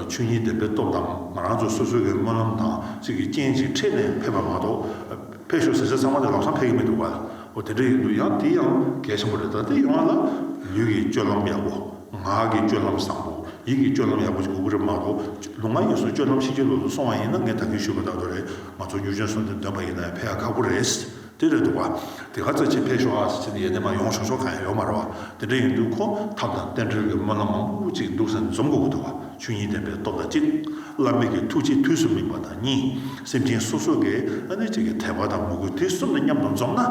ཆོས་ཉིད་བདེན་པའི་སྟོབས་དང་ང་རང་ཚོ་སོ་སོ་གའི་སྨོན་ལམ་དང་གཅིག་གི་རྐྱེན་གྱིས་འཕྲད་ནས་ཕེབས་པ་མ་གཏོགས། ཕེབས་བཞུགས་ཟེར་ཚད་ཚང་མ་དེ་ལམ་སང་ཕེབས་ཀྱི་མི་འདུག་པ་འོ་དེ་འདྲ་ཡིན་འདུག་ཡང་དེ་ཡང་གལ་ཆེན་པོ་རེད་ད་ལྟའི་ཡོང་བ་ལ་ལུས་ཀྱི་སྤྱོད་ལམ་ཡག་པོ། ངག་གི་སྤྱོད་ལམ་བཟང་པོ། ཡིད་ཀྱི་སྤྱོད་ལམ་ཡག་པོ་ཅིག་དགོས་ཀྱི་རེད་མ་གཏོགས་ལུང་མང་གཉིས་སུ་སྤྱོད་ལམ་ཤེས་ཀྱི་ལོག་ཏུ་སོང་བ་ཡིན་ན་ངས་དག་ཁྱེར་ཞུས་པ་ལྟ་བུ་རེད་ང་ཚོ་གཉུག་ཆོན་སོང་དུས་འདོན་པ་ཡིན་ན་ཡང་ཕེབས་ཡག་ཁག་པོ་རེད་དེ་རེད་འདུག་བ་དེ་ག་ཚོད་ཅིག་ཕེབས་ཞོག་ཨ་ཟེར་ཚེ་ཡས་ནས་མ་ཡོང་ཞོག་ཞོག་གང་ཡང་ཡོད་མ་རེད་བ་དེ་འདྲ་ཡིན་དུས་ཁོ་ཐབས་དང་རྟེན་འབྲེལ་གྱི་སྨོན་ལམ་མང་པོ་ཅིག་འདུག་ཟེར་ནས་འཛོམས་དགོས་ཀྱི་འདུག་བ། ཆོས་ཉིད་བདེན་པའི་སྟོབས་དང་གཅིག། བླ་མེད་ཀྱི་ཐུགས་རྗེས་དུས་སུ་སྨིན་པ་དང་གཉིས། སེམས་ཅན་སོ་སོ་གའི་ཨ་ནུ་གཅིག་གི་དད་པ་དང་མོས་གུས་དེ་གསུམ་ལ་མཉམ་དུ་འཛོམས་ན།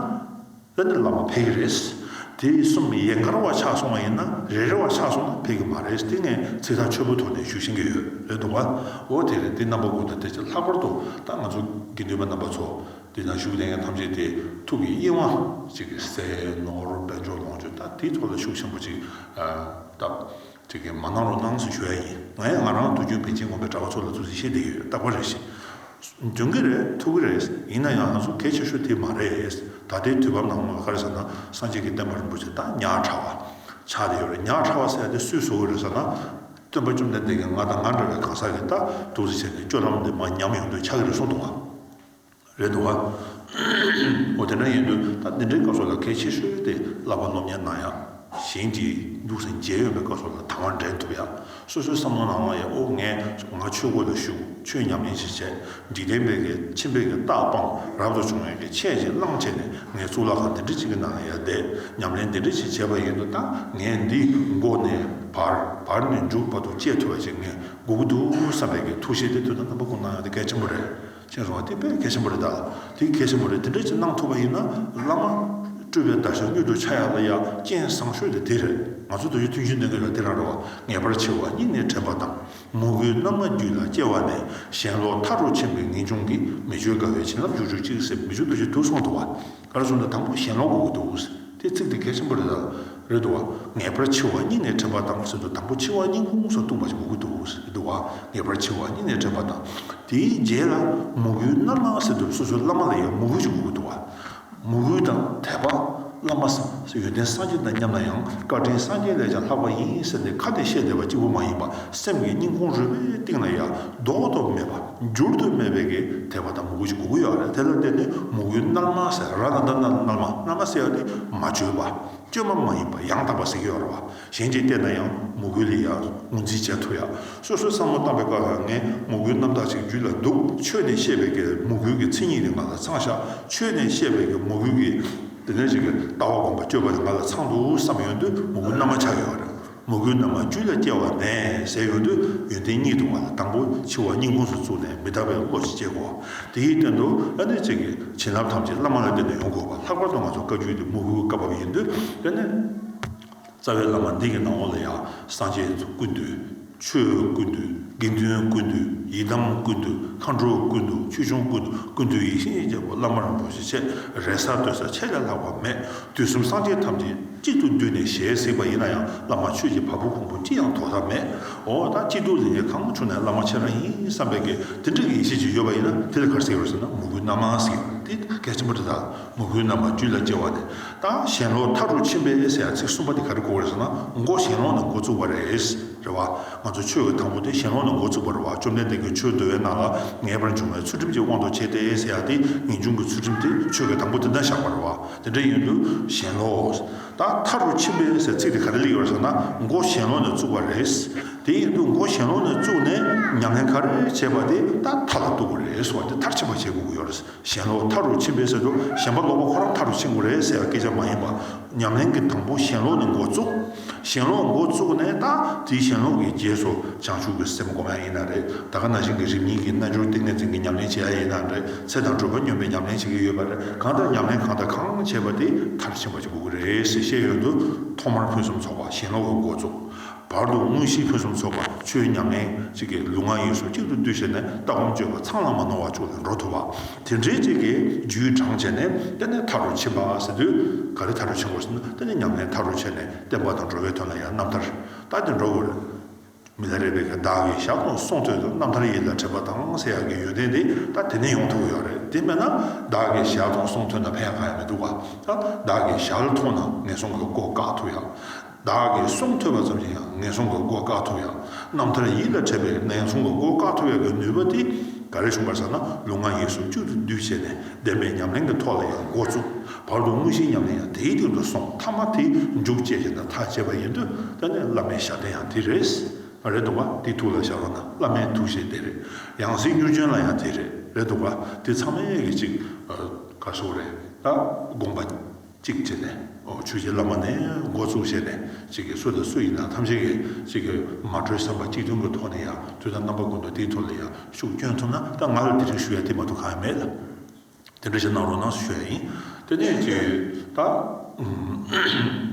ཨ་ནུ་བླ་མ་འཕེལ་གི་རེད། དེ་གསུམ་ཡན་གར་བར་ཆགས་སོང་བ་ཡིན་ན་རེ་རེ་བར་ཆགས་སོང་ན་འཕེལ་གི་མ་རེད་དེ་ངས་ཚིག་ཐག་ཆོད་པོ་ཐོག་ནས་ཞུ་བཞིན་གི་ཡོད་རེད་འདུག་བ། འོ་དེ་རེད་དེ་རྣམ་པ་དགུ་དང་དེ་བཅས་ལྷག་པར་དུ་ད་ང་ཚོ་དགེ་འདུན་པ་རྣམ་པ་ཚོ་འདི་ན་བཞུགས་གནས་མཁན་ཐམས་ཅད་དེ་ཐུགས་ཀྱི་དབྱེ་བ་གཅིག་གི་ཟས་ནོར་དཔལ་འབྱོར་ལོངས་སྤྱོད་དང་དེའི་ཐོག་ལ་ཤུགས་ཆེན་པོ་གཅིག་བཏབ། དེ་གས་མ་གནང་རོགས་གནང་ཞེས་ཞུ་ཡ་ཡིན་ང་ཡང་ང་རང་དུས་རྒྱུན་པེ་ཅིན་དགོན་པའི་གྲྭ་བ་ཚོ་ལ་ཚུར་གཟིགས་ཤེས་བསྡད་ཡོད་རྟག་པ་རེད་ཞེས་འདོན་གྱི་རེད་ཐུག་གི་རེད་ཡིན་ན་ཡང་ང་ཚོ་གལ་ཆེ་ཤོས་དེ་མ་རེད་ད་ལྟའི་དུས་བབ་ནང་ངོ་ཤར་ཟེར་ན་སངས་རྒྱས་ཀྱི་བསྟན་པ་རིན་པོ་ཆེ་དང་ཉག་ཕྲ་བ་ཆགས་བསྡད་ཡོད་རེད་ཉག་ཕྲ་བ་ཟེར་ཡ་དེ་སུས་བཟོ་གི་རེད་ཟེར་ན་སྟོན་པ་བཅོམ་ལྡན་འདས་ཀྱིས་ང་དང་ང་འདྲ་བའི་གང་ཟག་གི་ལྟ་གྲུབ་ཟེར་བྱས་ནས་སྤྱོད་ལམ་དེ་མ་ཉམས་ཡོང་དུས་ཆགས་ཀྱི་རེད་གསུངས་འདུག་བ། རེད་འདུག་ག། འོ་དེ་འདྲ་ཡིན་དུས་ད་འདི་འདྲའི་སྐབས་སོགས་ལ་གལ་ཆེ་ཤོས་དེ་བསླབ་པ་སློབ་གཉེར་ནང་ཡང་ཞེན་གྱིས་འདུག་སེམས་བརྗེད་ཡོད་པའི་སྐབས་སོགས་ལ་དང་བ་འདྲེན་ཐུབ་ཡ། སོ་སོའི་བསམ་བློ་ནང་ལ་ཡ་ཨོ་ངས་ང་ཆོས་སྒོ་ལ་ཞུགས་ཆོས་ཉམས་ལེན་ཞིག་བྱས་འཇིག་རྟེན་པའི་གལ་ཆེན་པའི་རྟགས་སྤང་རབ་ཏུ་བྱུང་ཡོད་ཀྱི་ཆས་ཅིག་བླངས་བྱས་ནས་ངས་གཙུག་ལག་ཁང་འདི་འདྲ་ཅིག་གི་ནང་ལ་ཡ་བསྡད་ཉམས་ལེན་འདི་འདྲ་ཅིག་བྱས་པ་ཡིན་དུས་ད་ངས་འདི་མགོ་ནས་བར་བར་ནས་མཇུག་བར་དུ་སྤྱད་ཐུབ་པ་ཞིག་ངས་སྒུག་གི་འདུག་བསམ་པའི་གི་ཐུགས་བཞེད་དེ་དུས་ད་རྣམ་པ་ཀུན་སྣང་ཡོང་དེ་གལ་ཆེན་པོ་རེད། ཅེས་རོ། དེ་དཔེ་གལ་ཆེན་པོ་རེད་ད། དེ་གལ་ཆེན་པོ་རེད་དེ་འདྲ་ཅིག་གནང་ཐུབ་པ་ཡིན་ན་བླ་མ། སྤྲུལ་པའི་བརྡ་ཤ་སྙུག་དུ་ཆ་ཡག་ལ་ཡ་རྐྱེན་བཟང་ཤོས་དེ་དེ་རེད། ང་ཚོ་དུས་རྒྱུན་ཐུན་བཞིན་འདོན་མཁན་ལ་དེ་རང་རེད་བ། ངེས་པར་ཆེ་བ་སྙིང་ནས་དྲན་པ་དང། མུ་གེའི་རྣམ་ལྔ་རྒྱུད་ལ་སྐྱེ་བ་ནས་གཞན་ལོག་མཐའ་རུ་ཕྱིན་པའི་ངེས་འབྱུང་གིས་མི་ཆོས་དགའ་བའི་བྱིན་རླབས་བཅུ་དྲུག་གཅིག་སེམས་མི་ཆོས་འདུ་བྱེད་དུག་གསུམ་དུ་བ། ཨ་རུ་ཟུང་ལ་དང་པོ་ཞེན་ལོག་གོ་དུ་ཨུས་དེ་ཚིག་དེ་གལ་ཆེན་པོ་རེད་ད་རེད་དུ་བ་ངེས་པར་འཆི་བ་སྙིང་ནས་དྲན་པ་དང་མ་སྲིན་དུ་དང་པོ་འཆི་བ་སྙིང་ཁུང་སོགས་ལྟུང་བ་ཞིག་གོ་གུ་དུ་ཨུས་རེད་དུ་བ་ངེས་པར་འཆི་བ་སྙིང་ནས་དྲན་པ་དང་དེའི་རྗེས་ལ་མོ་གུའི་རྣམ་སྣང་སྲིད་དུ་སོ་སོའི་བླ་མ་ལ་ཡང་མོ་གུ་ཞིག་གོ་གུ་དུ་བ་མོ་གུ་དང་དད་པ་བླ་མ་སངས་ཡོན་ཏན་སངས་རྒྱས་དང་མཉམ་ན་ཡང་བཀའ་དྲིན་སངས་རྒྱས་ལས་ཀྱང་ལྷག་པ་ཡིན་ཟེར་ཏེ་ཁ་ནས་བཤད་བསྡད་པ་གཅིག་པུ་མ་ཡིན་པ་སེམས་ཀྱི་སྙིང་ཁུང་རུས་པའི་གཏིང་ལ་ཡ་རྡོག་རྡོག་མེད་པ། འགྱུར་དུ་མེད་པའི་གེགས་ཐེག་པ་དང་མུ་གུ་ཅི་དགུ་དགུ་ཡོད་རེད་དེ་ལ་བརྟེན་ནས་མུ་གུའི་སྣང་མ་ཟད་ར་ལ་འདི་ན་སྣང་མ་སྣང་མ་ཟེར་བ་དེ་མ་བཅོས་པ་བཅོས་མ་མ་ཡིན་པ་ཡང་དག་པ་ཟེར་གྱི་ཡོད་རེད་བ་གཞན་གྱིས་བལྟས་ན་ཡང་མུ་གུ་ལས་ཡང་ངོས་འཛིན་བྱེད་ཐུབ་ཡ་སོ་སོའི་བསམ་བློ་བཏང་པའི་སྐབས་ལ་ངས་མུ་གུའི་རྣམ་དག་ཅིག་རྒྱུད་ལ་འདུག་ཆོས་ནས་བཤད་པའི་གེགས་མུ་གུའི་གེགས་མཚན་ཉིད་དེ་ང་ལ་ཚང་བཞག་ཆོས་ནས་བཤད་པའི་གེགས་མུ་གུའི་གེགས་དེ་ནས་ཅིག་ལྟ་བ་སྒོམ་པ་སྤྱོད་པ་དེ་ང་ལ་ཚང་འདུག་བསམ་ཡོང་དུས་མུ་གུ་རྣམ་མ་ཆགས་ཡོད་རེད། མོ་གུའི་རྣམ་པ་བཅུ་ལ་སྐྱེ་བ་མེད་ཟེར་ཡོང་དུས་ཡོན་ཏན་གཉིས་འདུག་བ་ལ་དང་པོ་འཆི་བ་སྙིང་ཁོངས་སུ་བཙུགས་ནས་མི་རྟག་པའི་བློ་ཞིག་སྐྱེ་དགོས། དེ་ཡི་སྟེང་དུ་ཨ་ནུས་ཚིག་གི་བྱིན་རླབས་ཐམས་ཅད་བླ་མ་ལ་བརྟེན་ནས་ཡོང་དགོས་པ་ལྷག་པར་དུ་ང་ཚོ་བཀའ་བརྒྱུད་འདི་མོ་གུའི་བཀའ་བབས་ཡིན་དུས་དཔེར་ན། རྩ་བའི་བླ་མ་འདི་གི་ནང་འོག་ལ་ཡང་སངས་རྒྱས་བསྐུར་འདུག། ཆོས་བསྐུར་འདུག་དགེ་འདུན་བསྐུར་འདུག་ཡི་དམ་བསྐུར་འདུག་མཁའ་འགྲོ་བསྐུར་འདུག་ཆོས་སྐྱོང་བསྐུར་འདུག་བསྐུར་འདུག་ཡིད་བཞིན་གྱི་བླ་མ་རང་བྱུང་ཞིག་ཆེད་རེ་ས་བསྟོད་ས་ཆེ་ལས་ལྷག་པ་མེད་དུས་གསུམ་སངས་རྒྱས་ཐམས་ཅད་གཅིག་ཏུ་འདུས་ནས་ཞལ་གཟིགས་པ་ཡིན་ན་ཡང་བླ་མ་ཆོས་ཀྱི་བ་སྤུ་ཕུང་པོ་ཅི་ཡང་དོགས་ཐབས་མེད། འོ་ད་སྐྱིད་སྡུག་ལས་ངན་གང་བྱུང་ནས་བླ་མ་ཁྱེད་རང་ཡིན་བསམ་པའི་གེ་དེ་འདྲ་གི་ཡེ་ཤེས་ཅིག་ཡོད་པ་ཡིན་ན་དེ་ལས་གར་གཟིགས་རོགས་ཟེར་ན་མོ་རྒུད་རྣམས་མང་གཟིགས་ཡོད་པ་འདི་གལ་ཆེན་པོ་རེད་ད་མོ་རྒུད་རྣམས་མ་རྒྱུད་ལ་སྐྱེ་བ་ནས་ད་གཞན་ལོག་མཐའ་དྲུག་ཕྱིན་པའི་ཨེས་ཡ་ཚིག་གསུམ་པ་འདི་ག་རེ་གོ་བ་རེད་ཟེར་ན་མགོ་གཞན་ལོག་ནས་མགོ་བཙུགས་པ་རེད། རེད་བ། ང་ཚོ་ཆོས་ཀྱི་དང་པོ་དེ་གཞན་ལོག་ནས་མགོ་བཙུགས་པ་རེད་བ་བཅོམ་ལྡན་འདས་ཀྱི་ཆོས་བསྡུ་བའི་ནང་ལ་ངེས་པར་འབྱུང་བའི་ཚུལ་ཁྲིམས་ཀྱི་དབང་དུ་བྱས་ཏེ་ཨེས་ཡ་དེ་ངེས་འབྱུང་གི་ཚུལ་ཁྲིམས་དེ་ཆོས་ཀྱི་དང་པོ་དེ་འདྲ་བཞག་པ་རེད་བ། དེ་འདྲ་ཡིན་དུས་ཞེན་ལོགས། ད་མཐའ་རུ་ཕྱིན་པའི་ཟེར་ཚིག་དེ་ག་རེ་ལས་ཡོད་རེད་ཟེར་ན་མགོ་ཞེན་ལོགས་ནས་བཙུགས་པ་རེད། དེ་ཡིན་དུས་མགོ་ཞེན་ལོགས་ནས་བཙུགས་ནས་ཉམས་ལེན་ག་རེ་བྱས་པ་དེ་ད་མཐའ་ལ་གཏུགས་དགོས་རེད་གསུངས་བ་དེ་མཐར་ཕྱིན་པ་བྱེད་དགོས་ཀྱི་ཡོད་རེད། ཞེན་ལོགས་མཐའ་རུ་ཕྱིན་པའི་ཟེར་དུས་ཞེན་པ་ལོག་པ་ཁོ་རང་མཐའ་རུ་ཕྱིན་དགོས་རེད་ཟེར་བ་སྐད་ཆ་མ་ཡིན་པ། ཉམས་ལེན་གྱི་དང་པོ་ཞེན་ལོགས་ནས་མགོ་བཙུགས། ཞེན་ལོག་མགོ་བཙུགས་ནས་ད་དེའི་ཞེན་ལོག་གི་རྗེས་སུ་བྱང་ཆུབ་ཀྱི་སེམས་སྒོམ་ཡ་ཡིན་ན་རེ་ད་ག་ན་ཞིག་གི་རིམ་གཉིས་ཀྱི་རྣལ་འབྱོར་ཏིང་ངེ་འཛིན་གྱི་ཉམས་ལེན་བྱེད་ཡ་ཡིན་ན་རེ་ཚེ་དང་སྒྲུབ་པ་སྙོམས་པའི་ཉམས་ལེན་བྱེད་ཀྱི་ཡོད་པ་རེ་གང་ལྟར་ཉམས་ལེན་གང་དང་གང་བྱེད་པ་དེ་མཐར་ཕྱིན་པ་ཅིག་དགོས་ཀྱི་རེད་ཟེར་ཤེས་ཡོན་དུ་ཐོག་མར་ཕུན་སུམ་ཚོགས་པ་ཞེན་ལོག་གི་མགོ་བཙུགས། བར་དུ་དངོས་གཞིའི་ཕུན་སུམ་ཚོགས་པ་ཆོས་ཉམས་ལེན་བྱེད་ཀྱི་ལུས་ངག་ཡིད་གསུམ་གཅིག་ཏུ་བསྡུས་བྱས་ནས་ལྟ་སྒོམ་སྤྱོད་པ་ཚང་ལ་མ་ནོར་བ་བཅུག་ནས་འགྲོ་ཐུབ་པ། དེ་འདྲའི་ཅིག་གིས་རྒྱུའི་གྲངས་བྱས་ནས་བསྟན་ནས་མཐའ་རུ་ཕྱིན་པ་ཟེར་དུས། ག་རེ་མཐའ་རུ་ཕྱིན་དགོས་ཟེར་ན་བསྟན་ནས་ཉམས་ལེན་མཐའ་རུ་བྱས་ནས་བསྟན་པ་དང་འགྲོ་བའི་དོན་ལ་ཡང་རྣམ་ཐར་བཏགས་ཏེ་འགྲོ་དགོས། མི་ལ་རས་པའི་ག་བདག་གིས་ཞག་སྟོང་སོང་དུས་སུ་རྣམ་ཐར་ཡིད་ལ་དྲན་པ་དང་ཟེར་ཡག་གི་ཡོན་ཏན་དེ་ད་དེ་ནས་ཡོང་ཐུབ་ཀྱི་ཡོད་རེད་དེ་མེད་ན་བདག་གིས་ཞག་སྟོང་སོང་དུས་ན་ཕན་ཡག་གང་ཡང་མི་འདུག་ག་ད་བདག་གིས་ཞག་ལ་ཐོང་ན་ངན་སོང་གི་སྐོར་བཀག་ཐུབ་ཡག། བདག་གིས་གསུངས་ཐོས་པ་ཙམ་གྱིས་ཡང་ངན་སོང་གི་སྒོ་བཀག་ཐུབ་ཡང་རྣམ་ཐར་ཡིད་ལ་འཕྲད་པའི་ངན་སོང་གི་སྒོ་བཀག་ཐུབ་ཡག་གི་ནུས་པ་དེ་ག་རེ་བྱུང་བར་ཟེར་ན་ལུས་ངག་ཡིད་གསུམ་གཅིག་ཏུ་འདུས་བྱས་ནས་བདེན་པའི་ཉམས་ལེན་གྱི་ཐོག་ལ་ཡང་འགོ་བཙུགས། བར་དུ་དངོས་གཞིའི་ཉམས་ལེན་ཡང་དེའི་སྟེང་དུ་སོང་མཐའ་མ་དེ་མཇུག་བཅད་བྱས་ན་ཐག་བཅད་པ་ཡིན་དུས་དེ་ནས་བླ་མའི་ཞབས་བརྟན་ཡང་དེ་རེད། རེད་འདུག་ག་དེའི་ཐུགས་ལ་ཞབས་རོགས་ན་བླ་མའི་ཐུགས་བཞེད་དེ་རེད། ཡང་གཟིགས་གཉུར་སྦྱོན་ལ་ཡང་དེ་རེད། རེད་འདུག་ག་དེ་ཚང་མའི་གཅིག་ག་སོགས་རེད། དགོངས་པ། ཅིག་བྱས་ནས། ཆོས་རྗེ་བླ་མ་ནི་མགོ་བཙུགས་བྱས་ནས། ཅིག་གིས་སུ་དང་སུ་ཡིན་ནམ་ཐམས་ཅད་ཀྱིས་ཅིག་གི་མ་གྲོས་བསམ་པ་གཅིག་མཐུན་གྱི་ཐོག་ནས་ཡང་དུས་དང་རྣམ་པ་ཀུན་ཏུ་དེའི་ཐོག་ལ་ཡང་ཤུགས་སྐྱོན་ཐོབ་ན་ད་ང་ལ་དེ་རིང་ཞུ་ཡ་དེ་མ་གཏོགས་གང་ཡང་མེད། དེ་འདྲ་ཞིག་གནང་རོགས་གནང་ཞུ་ཡ་ཡིན། དེ་ནས་ཅིག། ད།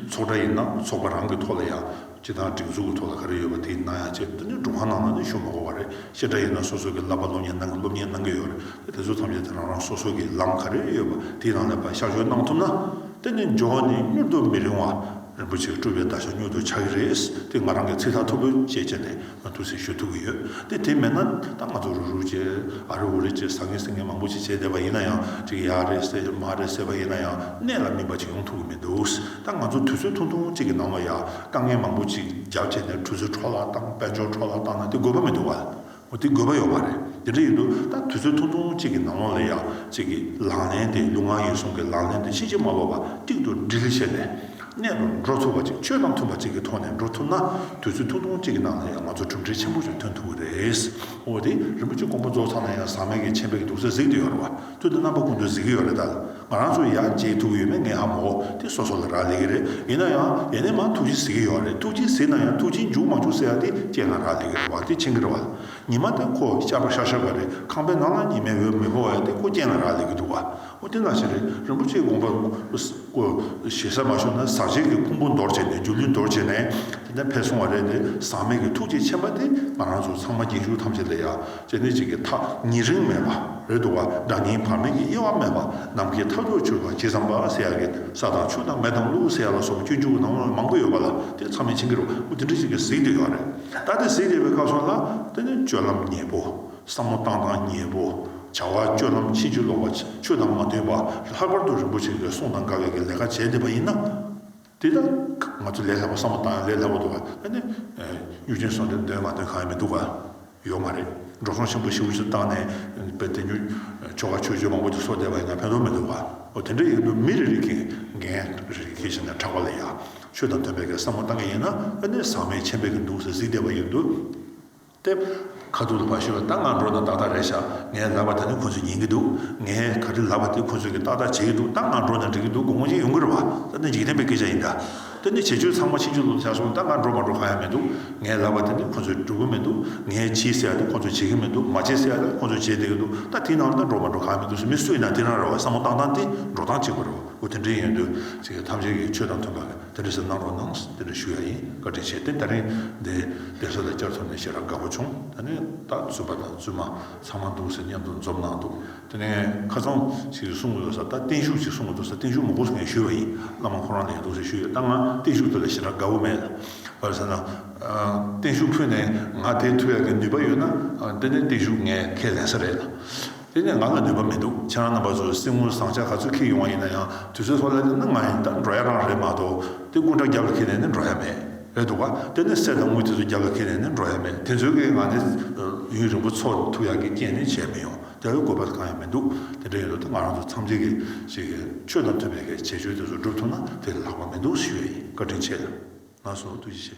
ཚོགས་གྲ་ཡིན་ན་ཚོགས་པ་རང་གི་ཐོག་ལ་ཡང། སྤྱི་དང་སྒྲིག་འཛུགས་ཀྱི་ཐོག་ལ་ག་རེ་ཡོད་པ་དེ་གནང་ཡག་ཅེས་བསྟན་དོན་སྒྲུབ་ཁང་ནང་ལ་ནི་ཞུ་མ་གོ་བ་རེད་ཤེས་དྲ་ཡོད་ན་སོ་སོ་གི་བསླབ་པ་སློབ་གཉེར་གནང་གི་སློབ་གཉེར་གནང་གི་ཡོད་རེད་དེ་དེ་ཚོ་ཐམས་ཅད་དེ་རང་རང་སོ་སོ་གི་ལམ་ག་རེ་ཡོད་པ་དེའི་ནང་ལས་པ་གཤག་བཅོས་གནང་ཐུབ་ན་དེ་ནི་འབྱོར་བ་ནི་མྱུར་དུ་མི་རིང་བ་རིན་པོ་ཆེ་སྤྲུལ་པའི་བརྡ་ཤ་མྱུར་དུ་ཆགས་ཀྱི་རེད་དེ་ང་རང་གི་ཚིག་ཐག་ཐུབ་པོ་བཅད་བཅད་ནས། ང་ཐུགས་སྲས་ཞུ་ཐུབ་ཀྱི་ཡོད་དེ་དེ་མེད་ན་ད་ང་ཚོ་རུ་རུ་བྱེད་ཨ་རེ་འུ་རེ་བྱེད་ཟ་ངེ་ཟི་ངེ་མང་པོ་ཅིག་བྱས་བསྡད་པ་ཡིན་ན་ཡང་ཅིག་ཡ་རེད་བསད་མ་རེད་བསད་པ་ཡིན་ན་ཡང་གནད་ལ་སྨིན་པ་ཅིག་ཡོང་ཐུབ་ཀྱི་མི་འདུག་ད་ང་ཚོ་དུས་ཚོད་ཐུང་ཐུང་ཅིག་གི་ནང་ལ་ཡ་དཀའ་ངལ་མང་པོ་ཅིག་རྒྱབ་བྱས་ནས་གྲུ་ཟུར་འཕྲོ་བརླག་བཏང་དཔལ་འབྱོར་འཕྲོ་བརླག་བཏང་ན་དེ་དགོས་པ་མི་འདུག་བ་འོ་དེ་དགོས་པ་ཡོད་པ་རེད་དེ་འདྲ་ཡིན་དུས་ད་དུས་ཚོད་ཐུང་ཐུང་ཅིག་གི་ནང་ལོག་ལ་ཡ་ཅིག་གི་ལག་ལེན་དེ་ལུས་ངག་ཡིད་གསུམ་གྱི་ལག་ལེན་དུ་ཕྱིན་ཅི་མ་ལོག་པ་གཅིག་ཏུ་སྒྲིལ་བྱས་ནས་གནས་དུ་འགྲོ་ཐུབ་པ་ཅིག་ཆོས་དང་མཐུན་པ་ཅིག་གི་ཐོག་ནས་འགྲོ་ཐུབ་ན་དུས་ཚོད་ཐུང་ཐུང་ཅིག་གི་ནང་ལ་ཡང་ང་ཚོར་གྲུབ་འབྲས་ཆེན་པོ་ཞིག་ཐོན་ཐུབ་ཀྱི་རེད། འོ་དེ་རིན་པོ་ཆེ་མགོན་པོ་རྫོགས་ཚར་ན་ཡང་ཟག་མེད་ཀྱི་མཆན་བེད་ཀྱི་འདུག་ས་གཟིགས་ཏུ་ཡོད་རེད་བ། དོན་དུ་རྣམ་པ་ཀུན་ཏུ་གཟིགས་ཀྱི་ཡོད་རེད་ད། ང་རང་ཚོ་ཡང་མཇལ་ཐུབ་ཀྱི་ཡོད་མེད་ངས་ཧ་མ་གོ་དེ་སོ་སོ་ལ་རག་ལས་ཀྱི་རེད་ཡིན་ན་ཡང་ཡེ་ནས་མང་ཐུགས་རྗེ་གཟིགས་ཀྱི་ཡོད་རེད་ཐུགས་རྗེ་གཟིགས་ན་ཡང་ཐུགས་རྗེ་འཇུག་མ་འཇུག་ཟེར་ཡ་དེ་ཁྱེད་ལ་རག་ལས་ཀྱི་རེད་བ་དེ་མཆན་འགེལ་བ་ལ་ཉི་མ་དེ་ཁོ་ཤར་བ་ཤར་ཤར་བ་རེད་ཁང་པའི་ནང་ལ་ཉི་མའི་འོད་མི་འཕོ་བ་ཡ་དེ་ཁོ་རྐྱེན་ལ་རག་ལས་ཀྱི་འདུག་བ། ཨོ་དེ་ལགས་ཞེས་རེད་རིན་པོ་ཆེའི་དགོངས་པ་བསྐོ། ཞེ་ས་མ་ཤོར་ན་ཟག་བཅས་ཀྱི་ཕུང་པོ་འདོར་བྱས་ནས་སྒྱུ་ལུས་འདོར་བྱས་ནས་དེ་འདྲ་འཕེལ་སོང་བ་རེད་དེ་ཟག་མེད་ཀྱི་ཐུགས་རྗེ་ཆེན་པ་དེ་ང་རང་ཚོ་ཚང་མ་རྒྱན་ཞུགས་ཐམས་ཅད་ལས་ཡག་ཅེས་གནད་གཅིག་གི་ཐག་ཉེ་རིང་མེད་པ་རེད་འདུག་བ་འདྲ་ངའི་བར་མེད་ཀྱི་དབྱེ་བ་མེད་པ་ནམ་མཁའི་མཐའ་སྐྱོར་ཆུ་ལ་ཇི་ཙམ་བབས་ས་ཡག་གི་ས་དང་ཆུ་དང་མེ་དང་ཀླུ་ས་ཡག་ལ་སོགས་པ་སྐྱོན་བཅུག་ནང་ལ་མང་པོ་ཡོད་པ་ལ་དེ་ཚང་མས་བྱིན་གྱི་རོ་འདི་འདྲ་གཅིག་གིས་གཟིགས་འདོད་ཡོད་རེད་ད་དེ་གཟིགས་བསྡད་པའི་སྐབས་སོགས་ལ་ད་ནི་སྤྱོད་ལམ་ཉེས་པོ། བསམ་བློ་བཏང་སྟངས་ཉེས་པོ། བྱ་བ་སྤྱོད་ལམ་ཕྱིན་ཅི་ལོག་པ། ཆོས་དང་མ་མཐུན་པ། ལྷག་པར་དུ་རིན་པོ་ཆེ་འགའི་གསུང་དང་དགའ་བས་ཀྱི་ལས་ཀ་བྱས་བསྡད་པ་ཡིན་ན། དེ་དག་ང་ཚོས་ལས་སླ་བ་བསམ་བློ་བཏང་ཡང་ལས་སླ་བོ་འདུག་ག་ཨ་ནི། གཡུ་ཆེན་སོགས་འདིར་འདོན་མ་འདོན་གང་ཡང་མི་འདུག་ག། ཡོད་མ་རེད། འབྲོག་ཁང་ཆེན་པོ་ཞིག་འུ་ཅག་བཏང་ནས། དཔེར་དེ་ཉོ། ཆོ་ག་ཆོས་སྤྱོད་མང་པོ་ཞིག་གསོག་བསྡད་པ་ཡིན་ན་ཕན་ཐོགས་མི་འདུག་ག། འོ་དེ་འདྲ་ཡིན་དུས་མི་རེ་རེ་གིས་འགན་རེ་རེ་ཁྱེར་ཕྱིན་ནས་དྲག་པ་ལ་ཡ། ཆོས་དང་མཐུན་པའི་ཀྱི་བསམ་བློ་བཏང་གི་ཡིན་ན་ཨ་ནི་ཟག་མེད་ཆེན་པོས་ཀྱི་འདུག་ཟེར་གཟིགས་བསྡད་པ་ཡིན་དུས། ཏེ། ཁ་ཐུག་ཏུ་བ་ཞུ་བའི་རྟགས་ངང་འགྲོ་དང་ཏག་ཏག་རེད་བཞག་ངས་ལབ་པ་དེ་ནི་ཁོ་ཚོས་ཉན་གྱི་འདུག་ངས་ག་རེ་ལབ་པ་དེ་ཁོ་ཚོས་ཀྱིས་ཏག་ཏག་བྱེད་ཀྱི་འདུག་རྟགས་ངང་འགྲོ་ནས་འགྲིག་གི་འདུག་དགོང་མོ་གཅིག་ཡོང་གི་རེད་བ། ད་ནི་འཇིག་རྟེན་པའི་སྐད་ཆ་ཡིན་འདྲ། ད་ནི་བྱེད་སྤྱོད་ཚང་མ་ཕྱི་འཇུག་ལུགས་ལ་བྱ་སོང་རྟགས་ངང་འགྲོ་མ་འགྲོ་གང་ཡང་མི་འདུག་ངས་ལབ་པ་དེ་ནི་ཁོ་ཚོས་སྒྲུབ་གི་མི་འདུག་ངས་བྱེད་ཟེར་བ་དེ་ཁོ་ཚོས་བྱེད་ཀྱི་མི་འདུག་མ་བྱེད་ཟེར་བ་དེ་ཁོ་ཚོས་བྱེད་བསྡད་ཀྱི་འདུག་ད་དེའི་ནང་ལ་འགྲོ་མ་འགྲོ་གང་ཡང་མི་འདུག་ཟེར་མི་སུ་ཡིན་ན་དེ་རང་རེད་བ་བསམ་བློ་བཏང་སྟངས་དེ་འགྲོ་སྟངས་གཅིག་པ་རེད་བ་འོ་དེ་འདྲའི་ཡོན་ཏན་ཚིག་གི་ཐམས་ཅད་ཀྱི་ཆོས་དང་མཐུན་པ། དེ་རེས་གནང་རོགས་གནང་ཟེར་ཞུ་ཡ་ཡིན་བཀའ་དྲིན་ཆེ་དེ་ལྟར་རིང་འདི་བདེ་སོ་ལ་བསྐྱར་ཐོབ་ནས་ཤེས་རབ་དགའ་པོ་བྱུང་ད་ནི་ད་བཙུན་པ་དང་བཙུན་མ་ཚང་མ་འདུག་ཟེར་སྙན་ཐོ་འཛོམས་གནང་འདུག་དེ་ནས་ཁ་ཚང་ཞིག་གསུང་གི་ཡོད་ས་ད་བརྟན་བཞུགས་ཅིག་གསུང་གི་འདུག་ས་བརྟན་བཞུགས་མོག་པོ་ཟེར་མཁན་ཞུས་པ་ཡིན་བླ་མ་ཁོ་རང་ལ་ཡིན་འདུག་ཟེར་ཞུས་ཡོད་ད་ང་བརྟན་བཞུགས་དེ་ལ་ཤེས་རབ་དགའ་པོ་མེད་བར་ཟེར་ན་བརྟན་བཞུགས་ཕུད་ནས་ང་དེ་ཐུག་ཡ་གི་ནུས་པ་ཡོད་ན་འདི་ནས་བརྟན་བཞུགས་ངས་ཁས་ལེན་ས་རེད། དེ་ནས་ང་ལ་ནུས་པ་མི་འདུག་ཁྱེད་རང་རྣམ་པ་ཚོ་སྲིང་མོ་བཟང་ཆ་ག་ཚོད་ཁེལ་ཡོང་བ་ཡིན་ན་ཡང་དུས་ཚོད་ལྷོད་ལ་བསྡད་ན་ང་ཡིན་ད་འགྲོ་ཡ་རང་རེད་མ་གཏོགས་དེ་སྐུ་འདྲ་རྒྱབ་ལ་ཁེལ་ནས་ནི་འགྲོ་ཡ་མེད། རེད་འདུག་ག་དེ་ནི་གསེར་དང་དངུལ་དེ་ཚོ་རྒྱབ་ལ་ཁེལ་ནས་ནི་འགྲོ་ཡ་མེད་དེ་ཚོའི་ཁེལ་ང་ནི་ཡུན་རིང་པོ་འཚོ་ཐུབ་ཡག་གི་རྐྱེན་ནི་བྱས་མི་ཡོང་དེ་ལ་དགོས་པ་གང་ཡང་མི་འདུག་དེ་འདྲ་ཡིན་ལུགས་དེ་ང་རང་ཚོ་འཚམས་འདྲི་གི་ཞིག་གིས་ཆོས་དང་མཐུན་པའི་གལ་ཆེ་ཆོས་དེ་ཚོ་སྒྲུབ་ཐུབ་ན་དེ་ལས་ལྷག་པ་མི་འདུག་ཞུ་ཡ་ཡིན་བཀའ་དྲིན་ཆེ། ང་སོང་ཐུགས་རྗེ་ཆེ།